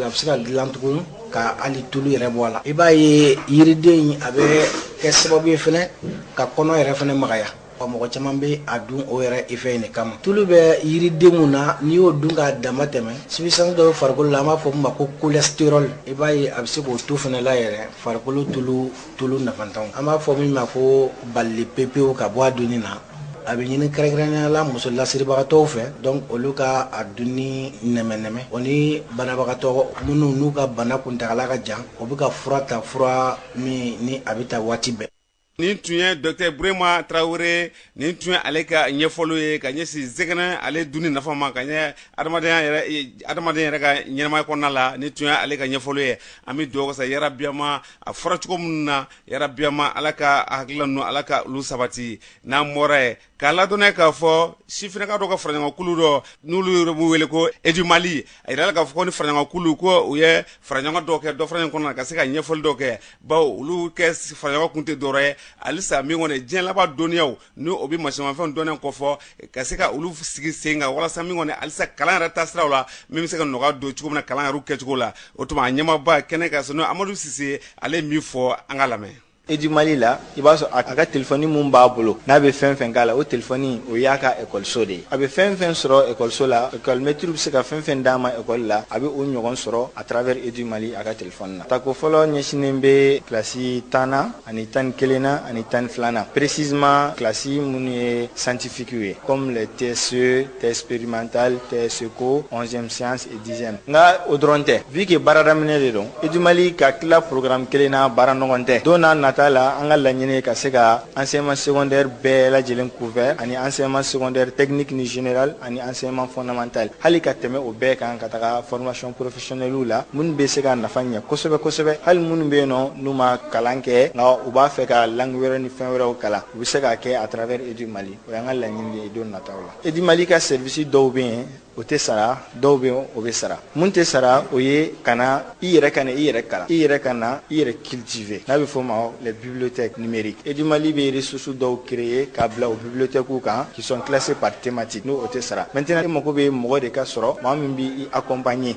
a bɛ se ka dilan tugun ka hali tulu yɛrɛ bɔ a la i b'a ye yiriden in a bɛ kɛ sababu ye fana ka kɔnɔ yɛrɛ fana magaya Wa mɔgɔ caman bɛ a dun o yɛrɛ effet in de kama tulu bɛ yiriden min na n'i y'o dun k'a dama tɛmɛ substance dɔ bɛ farikolo la an b'a fɔ min ma ko cholestérol i b'a ye a bɛ se k'o to fana la yɛrɛ farikolo tulu tulu nafantanw an b'a fɔ min ma ko bali pepew ka bɔ a dunni na a bɛ ɲini kɛrɛnkɛrɛnnenya la muso lasiribagatɔw fɛ donc olu ka a dunni nɛmɛnɛmɛ o ni banabagatɔ minnu n'u ka bana kuntaala ka jan o bɛ ka fura ta fura min ni a bɛ ta waati bɛɛ nin tun ye docteur burema tarawele nin tun ye ale ka ɲɛfɔliw ye ka ɲɛsin zɛgɛnɛ ale dunni nafa ma ka ɲɛ adamaden yɛrɛ ka ɲɛnamaya kɔnɔna la nin tun ye ale ka ɲɛfɔli ye an bɛ dugawu kɛ sa yarabiyama a fɔra cogo minnu na yarabiyama ala ka hakilila ninnu ala ka olu sabati n'an bɔra ye k'a ladɔnniya k'a fɔ sifinaka dɔ ka faraɲɔgɔnkulu dɔ n'olu yɛrɛ b'u wele ko edumali a yirala k'a fɔ ko ni faraɲɔgɔnkulu ko u ye faraɲɔgɔn dɔ kɛ dɔ faraɲɔgɔn kɔnɔna ka se ka ɲɛfɔli dɔ kɛ bawo olu kɛ faraɲɔgɔn kun tɛ dɔwɛrɛ ye halisa min kɔni diɲɛ laban dɔnniyaw ni o bɛ masimafɛn dɔnniya kɔfɔ ka se ka olu sigi sen kan walasa min kɔni halisa kalan yɛrɛ taasiraw la min bɛ se ka nɔgɔya don cogo min na kalan yɛrɛ kɛcogo la o tuma a ɲɛmaaba kɛnɛ kan sa n'o amadu sise ale ye min fɔ an ka lamɛn edumali la i b'a sɔrɔ a ka telefɔni min b'a bolo n'a bɛ fɛn fɛn k'a la o telefɔni o y'a ka ekɔliso de ye a bɛ fɛn fɛn sɔrɔ ekɔliso la ekɔlimɛtiri bɛ se ka fɛn fɛn d'a ma ekɔli la a bɛ o ɲɔgɔn sɔrɔ à travers edumali a ka telefɔni na tako fɔlɔ ɲɛsinnen bɛ kilasi tannan ani tan ni kelennan ani tan ni filanan précisément kilasi minnu ye scientifiques ye comme les TSE TS expérimentale TSECO onzième science dixième nka o dɔrɔn tɛ vu que baara daminɛ de don EDUMALI ka tila programme kelen na baara nɔgɔn tɛ don na nata la an ka laɲini ye ka se ka enseignement secondaire bɛɛ lajɛlen couvert ani enseignement secondaire technique ni général ani enseignement fondamental hali ka tɛmɛ o bɛɛ kan ka taga formation professionnelle la minnu bɛ se ka nafa ɲɛ kosɛbɛ kosɛbɛ hali minnu bɛ yen nɔ n'u ma kalan kɛ nka u b'a fɛ ka langue wɛrɛ ni fɛn wɛrɛw kalan u bɛ se k'a kɛ à travers EDUMALI o y'an ka laɲini ye don nataw la EDUMALI ka service dɔw bɛ yen o tɛ sara dɔw bɛ yen o bɛ sara min tɛ sara o ye ka na i yɛrɛ ka na i yɛrɛ kalan i yɛrɛ ka na i yɛrɛ cultiver n'a bɛ f'o ma les bibliothèques numériques Edumali bɛ ressources dɔw créer k'a bila o bibliothèques kan qui sont classées par thématique ni o tɛ sara maintenant i mago bɛ mɔgɔ de ka sɔrɔ maa min bɛ i accompagner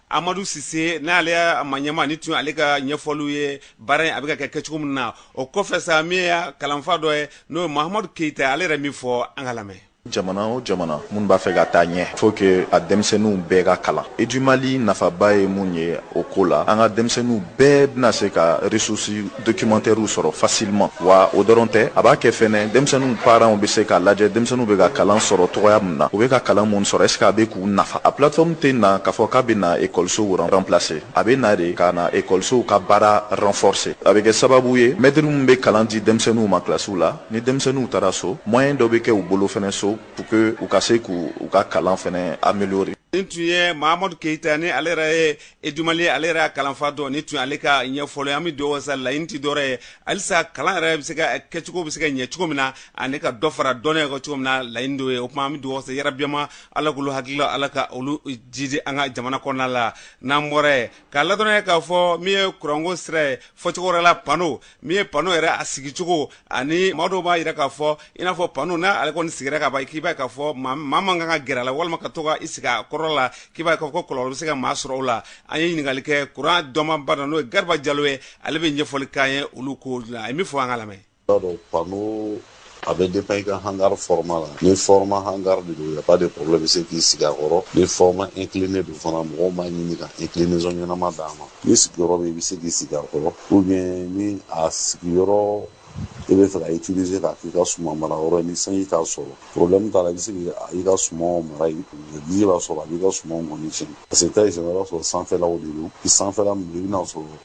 amadu sise n'ale y'a maa ɲɛmaa nin tun ale ka ɲɛfɔliw ye baara in a bɛ ka kɛ kɛcogo min na o kɔfɛ sa min y'a kalanfa dɔ ye n'o ye mahamadu keyita ale yɛrɛ min fɔ an ka lamɛn jamana o jamana min b'a fɛ ka taa ɲɛ il faut que a denmisɛnninw bɛɛ ka kalan edumali nafaba ye mun ye o ko la an ka denmisɛnninw bɛɛ bɛna se ka ressources documentaires sɔrɔ facilement wa o dɔrɔn tɛ a b'a kɛ fɛnɛ denmisɛnninw parents bɛ se k'a lajɛ denmisɛnninw bɛ ka kalan sɔrɔ cogoya min na u bɛ ka kalan mun sɔrɔ est-ce que a bɛ k'u nafa a plateforme tɛ na k'a fɔ k'a bɛ na ekɔlisow remplacer a bɛ na de ka na ekɔlisow ka baara renforcer a bɛ kɛ sababu ye mɛtiri min bɛ kalan di denmisɛnninw ma kilasiw la ni denmisɛnninw taara so moyen dɔ bɛ kɛ u bolo fɛnɛ so pour que u ka se k'u ka kalan fɛnɛ améliorer nin tun ye mahamadu keyita ni ale yɛrɛ ye edumali ale yɛrɛ kalanfa dɔ nin tun ale ka ɲɛfɔli an bɛ dugawu sa laɲini tɛ dɔwɛrɛ ye halisa kalan yɛrɛ bɛ se ka kɛcogo bɛ se ka ɲɛ cogo min na ani ka dɔ fara dɔnniya kan cogo min na laɲini d'o ye o tuma an bɛ dugawu sa yarabi ya ma ala k'olu hakilila ala ka olu jidi an ka jamana kɔnɔna la n'an bɔra yen k'a ladɔnniya k'a fɔ min ye kuranko sira ye fɔcogo wɛrɛ la pano min ye panneau yɛrɛ a sigicogo ani maa dɔw b'a yira k'a fɔ i n'a fɔ panneau n'a ale kɔni sigira ka ban k'i b'a ye k'a fɔ maa man kan ka gɛrɛ a la walima ka to ka i sigi a kɔrɔ la k'i b'a ye k'a fɔ ko kɔlɔlɔ bɛ se ka maa sɔrɔ o la an ye ɲininkali kɛ kuran dɔnbagaba dɔ n'o ye Gariba Jalo ye ale bɛ ɲɛfɔli k'an ye olu kow la a ye min fɔ an k'a lamɛn. a bɛ dépend i ka hangar format la ni format hangar de don il y a pas de problème i bɛ se k'i sigi a kɔrɔ ni format incliné don fana mɔgɔw b'a ɲini ka inclinaison ɲɛnama d'a ma ni sigiyɔrɔ bɛ i bɛ se k'i sigi a kɔrɔ ou bien ni a sigiyɔrɔ i bɛ fɛ ka utiliser k'a k'i ka suman mara yɔrɔ ye ni sanji t'a sɔrɔ problème t'a la i bɛ se k'i ka sumanw mara yen ji b'a sɔrɔ a b'i ka sumanw kɔni tiɲɛ parce que taa i sɛnɛ i b'a sɔrɔ sanfɛlaw de don i sanfɛla min don i bɛna sɔrɔ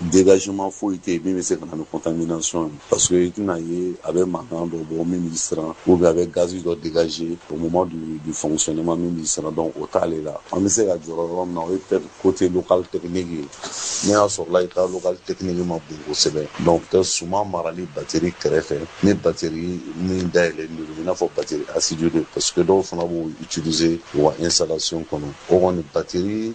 dégagement foyi tɛ yen min bɛ se ka na ni contamination ye parce que i tɛna ye a bɛ mankan dɔ bɔ min b'i siran ou bien a bɛ gaz dɔ dégager au moment du, du fonctionnement min b'i siran donc o t'ale la an bɛ se ka jɔrɔ yɔrɔ min na o ye peut-être côté local technique ye n'i y'a sɔrɔla i ka local technique ma bon kosɛbɛ donc peut-être suman marali batterie kɛrɛfɛ ni batterie min dayɛlɛlen don i n'a fɔ batterie acide de parce que dɔw fana b'o utiliser u ka installation kɔnɔ o kɔni batterie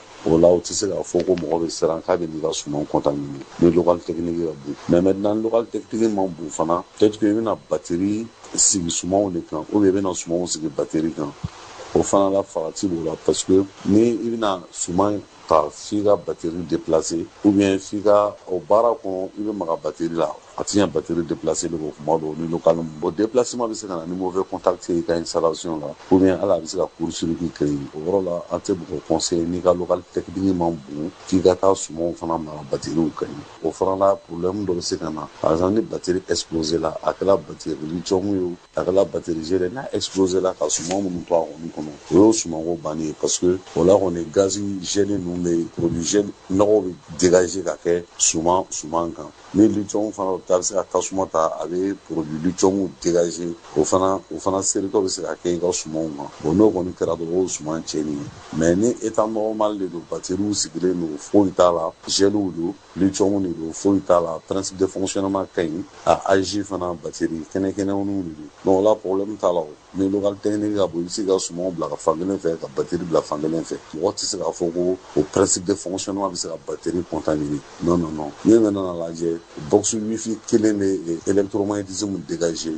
o la u tɛ se k'a fɔ ko mɔgɔ bɛ siran k'a bɛn'i ka suman contaminer ni local technique ka bon mais maintenant local technique man bon fana peut-être que i bɛna bateri sigi sumanw de kan ou bien i bɛna sumanw sigi bateri kan o fana la farati b'o la parce que ni i bɛna suman ta f'i ka bateri déplacer ou bien f'i ka o baara kɔnɔ i bɛ maga bateri la a tɛ ɲɛ batiri déplacer de kɔ kuma dɔw ni local man bon déplacement bɛ se ka na ni mauvais contact ye i ka installation la ou bien hali a bɛ se ka court-circuit créer o yɔrɔ la an tɛ mɔgɔ conseiller n'i ka local technique man bon k'i ka taa sumanw fana mara batiriw kan yen o fana la problème dɔ bɛ se ka na par exemple ni batiri exploséla a kɛra batiri lithium ye o a kɛla bateri gel n'a exploséla ka suman minnu to a kɔni kɔnɔ o y'o sumanko banni ye parce que o la kɔni gazi gel ninnu bɛ produit gel nɔgɔw bɛ dégager ka kɛ suman suman kan ni litiyɔmu fana ta bɛ se ka tasuma ta a bɛ produit litiyɔmu dégager o fana o fana seritɔ bɛ se ka kɛ i ka sumanw kan bon n'o kɔni kɛra dɔrɔn o ye suman tiɲɛni ye mais ni état normal de don bateriw sigilen don foyi t'a la geliw don Lithium de don foyi t'a la principe de fonctionnement ka ɲi a âge fana batterie kɛnɛkɛnɛninw de don donc o la problème t'a la o ni local technique ka bon i bɛ se ka sumanw bila ka fan kelen fɛ ka batterie bila fan kelen fɛ mɔgɔ tɛ se k'a fɔ ko o principe de fonctionnement bɛ se ka batterie contaminer non non non n'i nana a lajɛ box wifi kelen bɛ électromagnétisme dégager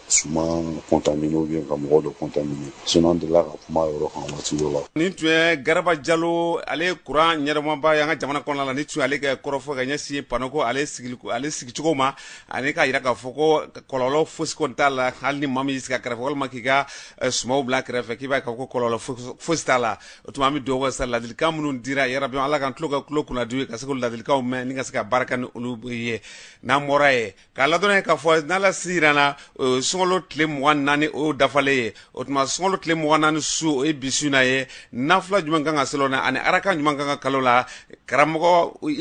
suman contaminer ou ka mɔgɔ dɔ contaminer sinon an delila ka kuma yɔrɔ kan waati dɔ la nin tun ye Garba Jalo ale ye kuran ɲɛnamaba ye an ka jamana kɔnɔna la nin tun y'ale ka kɔrɔfɔ ka ɲɛsin panneau ko ale sigicogo ma ani k'a jira k'a fɔ ko kɔlɔlɔ fosi kɔni t'a la hali ni maa min y'i sigi a kɛrɛfɛ walima k'i ka eh, sumaw bila a kɛrɛfɛ k'i b'a ye k'a fɔ ko kɔlɔlɔ fosi t'a la o tuma an bɛ dugawu kɛ sa ladilikan minnu dira yarabi ala k'an tulo kunnadi ka se k'o ladilikanw mɛn ni ka se ka baara kɛ ni olu ye n'an bɔra yen K'a ladɔnniya k'a fɔ n'ala si jira an na sunkalo tile mugan naani o dafalen ye o tuma sunkalo tile mugan naani su o ye bi su na ye nafila jumɛn kan ka seli o na ani arakan jumɛn kan ka kalan o la karamɔgɔ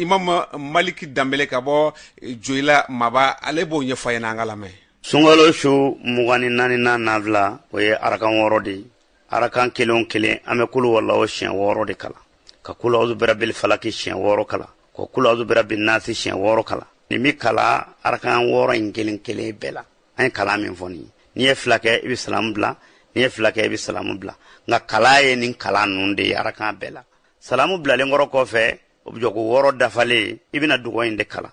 imamu maliki danbele ka bɔ joyila maba ale b'o ɲɛfɔ an ye an k'a lamɛn sunkalo su mugan ni naaninan nafila o ye arakan wɔɔrɔ de ye arakan kelen o kelen an bɛ kulu walahu siɲɛ wɔɔrɔ de kalan ka kulu azu birabil falaki siɲɛ wɔɔrɔ kalan ka kulu azu birabil nasi siɲɛ wɔɔrɔ kalan nin bɛ kalan arakan wɔɔrɔ in kelen kelen bɛɛ la an ye kalan min fɔ nin ye n'i ye fila kɛ i bɛ salamu bila n'i ye fila kɛ i bɛ salamu bila nka kalan ye nin kalan ninnu de ye arakan bɛɛ la salamu bilalen kɔrɔ kɔfɛ o bɛ jɔ ko wɔɔrɔ dafalen i bɛna dugaw in de kalan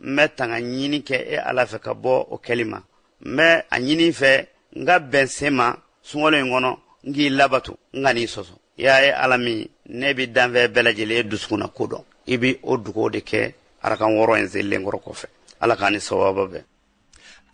n bɛ tanga ɲini kɛ e ala fɛ ka bɔ o kɛli ma n bɛ a ɲini fɛ n ka bɛn sen ma sunkalo in kɔnɔ n k'i labato n kan'i sɔsɔ y'a ye ala min n'e bɛ danfɛn bɛɛ lajɛlen dusukunnako dɔn i bɛ o dugaw de kɛ arakan wɔɔrɔ in selilen kɔrɔ kɔfɛ ala k'an ni sababa bɛn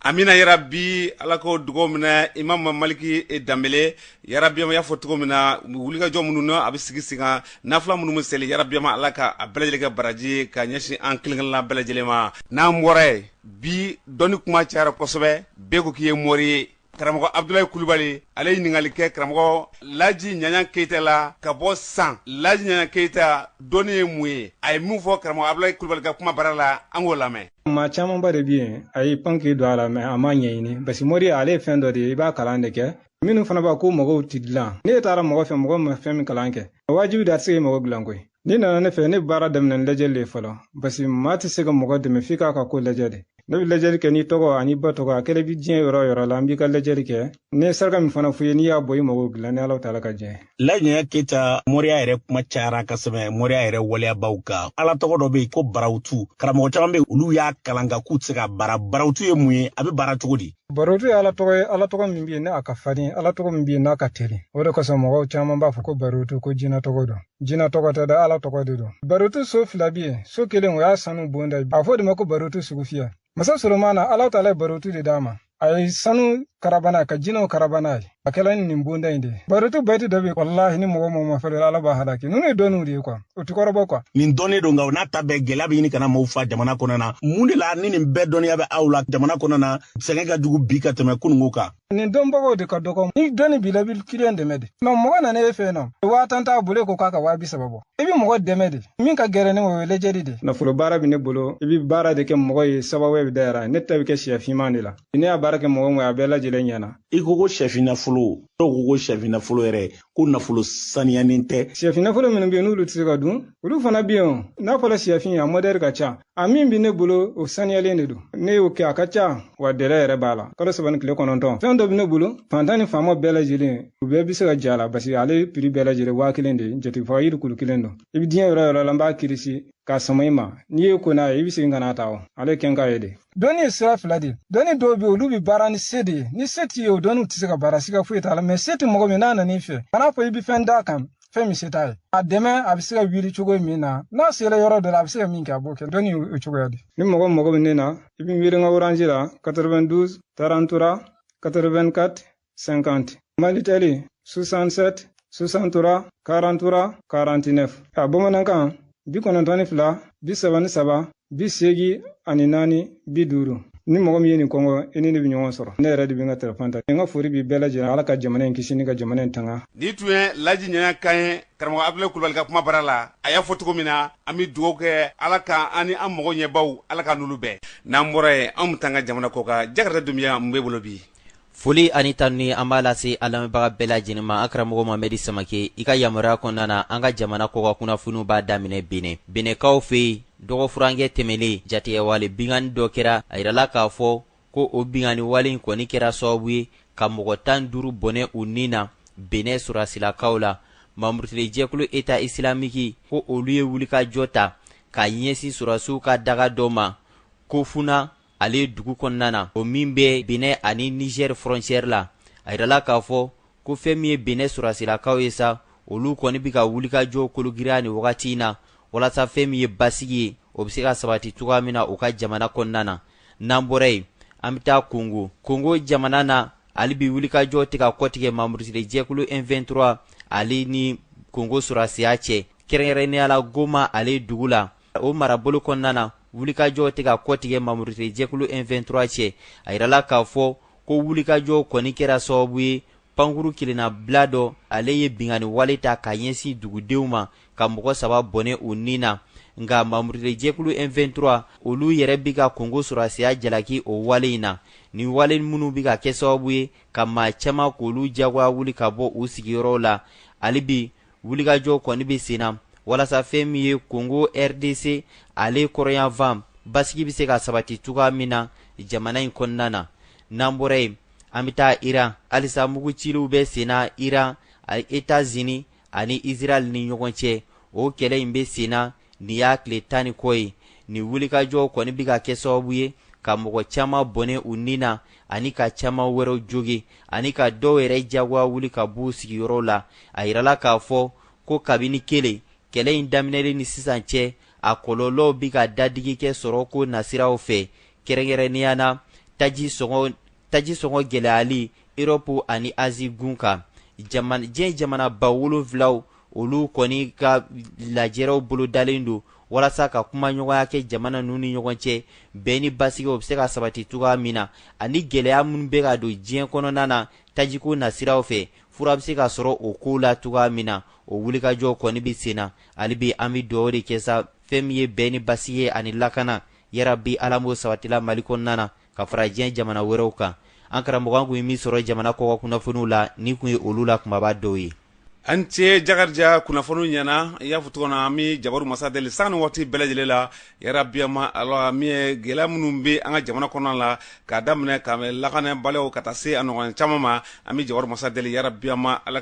amina yarabi ala k'o dugaw minɛ imamu maliki danbele yarabiyama y'a fɔ cogo min na wulikajɔ minnu na a bɛ sigi sigi kan nafila minnu bɛ seli yarabiyama ala ka a bɛɛ lajɛlen kɛ baraji ka ɲɛsin an kelenkelenna bɛɛ lajɛlen ma n'an bɔra yen bi dɔnni kuma cayara kosɛbɛ bɛɛ ko k'i ye mori ye karamɔgɔ abdulayi kulubali ale ye ɲininkali kɛ karamɔgɔ laji ɲaɲa keyita la ka bɔ san laji ɲaɲa keyita dɔnni ye mun ye a ye min fɔ karamɔgɔ abdulayi kulubali ka kumabara la an k'o lamɛn maa camanba de bi yen a y'i pan k'i don a la mɛ a m'a ɲɛɲini basi moriya ale ye fɛn dɔ de ye i b'a kalan de kɛ minnu fana b'a ko mago ti dilan n'e taara mɔgɔ fɛ mɔgɔ ma fɛn min kalan kɛ wajibi de a tɛ se k'i mago dilan koyi N'i nana ne fɛ ne bɛ baara daminɛ ni lajɛli de ye fɔlɔ basi maa tɛ se ka mɔgɔ dɛmɛ f'i k'a ka ko lajɛ de ne bɛ lajɛli kɛ n'i tɔgɔ an'i ba tɔgɔ a kɛlen bɛ diɲɛ yɔrɔ o yɔrɔ la an b'i ka lajɛli kɛ ne ye saraka min fana f'i ye n'i y'a bɔ i mago dilan ni ala taala ka diɲɛ laji ɲaɲa keyita moriya yɛrɛ kuma cayara kosɛbɛ moriya yɛrɛ waleyabaw ka ala tɔgɔ dɔ bɛ yen ko barawutu karamɔgɔ caman bɛ yen olu y'a kalan ka k'u tɛ se k'a baara barawutu ye mun ye a bɛ baara cogo di barotu ye ala tɔgɔ ye ala tɔgɔ min bɛ yen n'a ka farin ala tɔgɔ min bɛ yen n'a ka teli o de kosɔn mɔgɔw caman b'a fɔ ko barotu ko jinɛ tɔgɔ don Jina tɔgɔ tɛ dɛ Ala tɔgɔ de don. Barotu so fila bi yen, so kelen o ye sanu bonda ye. A fɔ de ma ko barotu sugu fiyɛ. Masa Solomana, Ala Taala ye barotu de d'a ma. A ye sanu karaba n'a ka jinɛw karaba n'a ye. A kɛla ni nin bonda in de ye. Barotu baiti dɔ bɛ yen walahi ni mɔgɔ mɔgɔ ma fɛrɛ Ala b'a halaki. Ninnu ye dɔnniw de ye kuwa. O ti kɔrɔbɔ kuwa. Nin dɔnnen don nka o n'a ta bɛɛ gɛlɛya bɛ ɲini ka na maaw faa jamana kɔnɔna. Mun de la ni nin bɛɛ dɔnniya bɛ aw la jamana kɔnɔna sɛgɛn ka jugu bi ka tɛmɛ kununko kan? nin dɔnbagaw de ka dɔgɔ ni dɔnni b'i la i b'i kiliyan dɛmɛ de mɛ mɔgɔ nana e fɛ yen nɔ waa tan t'a bolo e ko k'a ka waa bi saba bɔ i bɛ mɔgɔ dɛmɛ de min ka gɛlɛn ni o ye lajɛli de nafolo baara bɛ ne bolo i bɛ baara de kɛ mɔgɔ ye sababu bɛ dayɛlɛ ne ta bɛ kɛ sɛ finman de la ne y'a baara kɛ mɔgɔ min ye a bɛɛ lajɛlen ɲɛna i ko ko sɛfin nafolo dɔw ko ko sɛfin nafolo yɛrɛ ko nafolo saniyanen tɛ sɛfin nafolo minnu bɛ yen n'olu tɛ se ka dun olu fana bɛ yen n'a fɔra sɛfin a modɛli ka ca a min bɛ ne bolo o saniyalen de don ne y'o kɛ a ka ca wa dɛlɛ yɛrɛ b'a la kalo saba ni tile kɔnɔntɔn fɛn dɔ bɛ ne bolo fantan ni faama bɛɛ lajɛlen u bɛɛ bɛ se ka j'a la parce que ale prix bɛɛ lajɛlen waa kelen de ye jatigifaga yiri kulu kelen don i bɛ diɲɛ yɔrɔ yɔrɔ la n b'a kirisi k'a sama i ma n'i ye ko n'a ye i bɛ segin ka n'a ta o ale kɛ n k'a ye de dɔnni ye sira fila de ye dɔnni dɔw bɛ olu bɛ baara ni se de ye ni se t'i ye o dɔnniw tɛ se ka baara siga foyi t'a la mɛ se tɛ mɔgɔ min n'a nan'i fɛ kan'a fɔ i bɛ fɛn d'a kan fɛn min se t'a ye a dɛmɛ a bɛ se ka wuli cogo min na n'a sera yɔrɔ dɔ la a bɛ se ka min kɛ a b'o kɛ dɔnni o cogoya de ni mɔgɔ mago bɛ ne na i bɛ wele n ka orange la 92 33 84 50 malitɛli 67 63 43 49 a bamanankan bi kɔnɔntɔn ni fila bi saba ni saba bi seegi ani naani bi duuru ni mɔgɔ min ye nin kɔngɔ i ni ne bɛ ɲɔgɔn sɔrɔ ne yɛrɛ de bɛ n ka telefɔni ta n ka fori b'i bɛɛ lajɛlen ala ka jamana in kisi ni ka jamana in tanga nin tun ye laji ɲɛna kan ye karamɔgɔ abdulayi kulubali ka kuma bara la a y'a fɔ cogo min na an bɛ dugawu kɛ ala ka an ni an mɔgɔ ɲɛbaw ala ka n'olu bɛɛ n'an bɔra yen an bɛ taa an ka jamana kɔkan jakarija dunbiya mun b'e bolo bi Foli ani tanuni an b'a lase a lamɛnbaga bɛɛ lajɛlen ma an karamɔgɔ mamɛdi samake i ka yamaruya kɔnɔna na an ka jamana kɔkan kunnafoniw b'a daminɛ benɛ benɛkaw fɛ yen dɔgɔfurankɛ tɛmɛnen jatigɛwale binkanni dɔ kɛra a yirala k'a fɔ ko o binkanni wale in kɔni kɛra sababu ye ka mɔgɔ tan duuru bɔnɛ u ni na benɛ sɔrɔdasilakaw la mamurutili jɛkulu eta isilamiki ko olu ye wulikajɔ ta ka ɲɛsin sɔrɔdasiw ka daga dɔ ma kofuna ale dugu kɔnɔna na o min bɛ benɛ ani niger frontière la a yirala k'a fɔ ko fɛn min ye benɛ sɔrɔdasilakaw ye sa olu kɔni bɛ ka wulikajɔ kologirinya nin wagati in na walasa fɛn min ye basigi ye o bɛ se ka sabati cogoya min na u ka jamana kɔnɔna na n'an bɔra yen an bɛ taa kongo kongo jamana na hali bi wulikajɔ tɛ ka kɔtigɛ mamurutili jɛkulu m23 ale ni kongo sɔrɔdasiya cɛ kɛrɛnkɛrɛnnenya la goma ale dugu la o marabolo kɔnɔna na wulikajɔ tɛ ka kɔtigɛ mamurutili jɛkulu M23 cɛ a yirala k'a fɔ ko wulikajɔ kɔni kɛra sababu ye pankuru kelennabila dɔ ale ye binkanni wale ta ka ɲɛsin dugudenw ma ka mɔgɔ saba bɔnɛ u ni na nka mamurutili jɛkulu M23 olu yɛrɛ bɛ ka kongo sɔrɔdasiya jalaki o wale in na nin wale minnu bɛ ka kɛ sababu ye ka maa caman k'olu jagoya wuli ka bɔ u sigiyɔrɔw la hali bi wulikajɔ kɔni bɛ sen na walasa fɛn min ye kongo rdc ale kɔrɔnyanfan basigi bɛ se ka sabati cogoya min na jamana in kɔnɔna na n'an bɔra yen an bɛ taa iran halisa mugu ciliw bɛ sen na iran etats-unis ani israel ni ɲɔgɔn cɛ o kɛlɛ in bɛ sen na nin y'a tile tan ni kɔ ye nin wulikajɔ kɔni bɛ ka kɛ sababu ye ka mɔgɔ caman bɔnɛ u ni na ani ka caman wɛrɛw jogin ani ka dɔw yɛrɛ jagoya wuli ka b'u sigiyɔrɔw la a yirala k'a fɔ ko kabini kelen kɛlɛ in daminɛlen ni sisan cɛ a kɔlɔlɔw bɛ ka dadigi kɛ sɔrɔko nasiraw fɛ kɛrɛnkɛrɛnnenya na taji sɔngɔ gɛlɛyali erɔpu ani azi gun kan diɲɛ jamanaba wolonwulaw olu kɔni ka lajɛrɛw bolo dalen don walasa ka kumaɲɔgɔnya kɛ jamana ninnu ni ɲɔgɔn cɛ bɛn ni basigi o bɛ se ka sabati cogoya min na ani gɛlɛya minnu bɛ ka don diɲɛ kɔnɔna na tajiko nasiraw fɛ fura bɛ se ka sɔrɔ o kow la cogoya min na o wulikajɔ kɔni bɛ sen na hali bi an bɛ dugawu de kɛ sa fɛn min ye bɛn ni basigi ye ani lakana yarabi ala m'o sabatila mali kɔnɔna na ka fara diɲɛ jamana wɛrɛw kan an karamɔgɔ an kun ye min sɔrɔ jamana kɔkan kunnafoniw la nin kun ye olu la kunbaba dɔw ye a ni ce jakarija kunnafoni ɲɛna i y'a fɔ cogo na an bɛ jabaru masa deli san ni waati bɛɛ lajɛlen la yarabi maa ala min ye gɛlɛya minnu bɛ an ka jamana kɔnɔna la k'a daminɛ ka lakanabaliya ka taa se a ɲɔgɔn caman ma an bɛ jabaru masa deli yarabi maa ala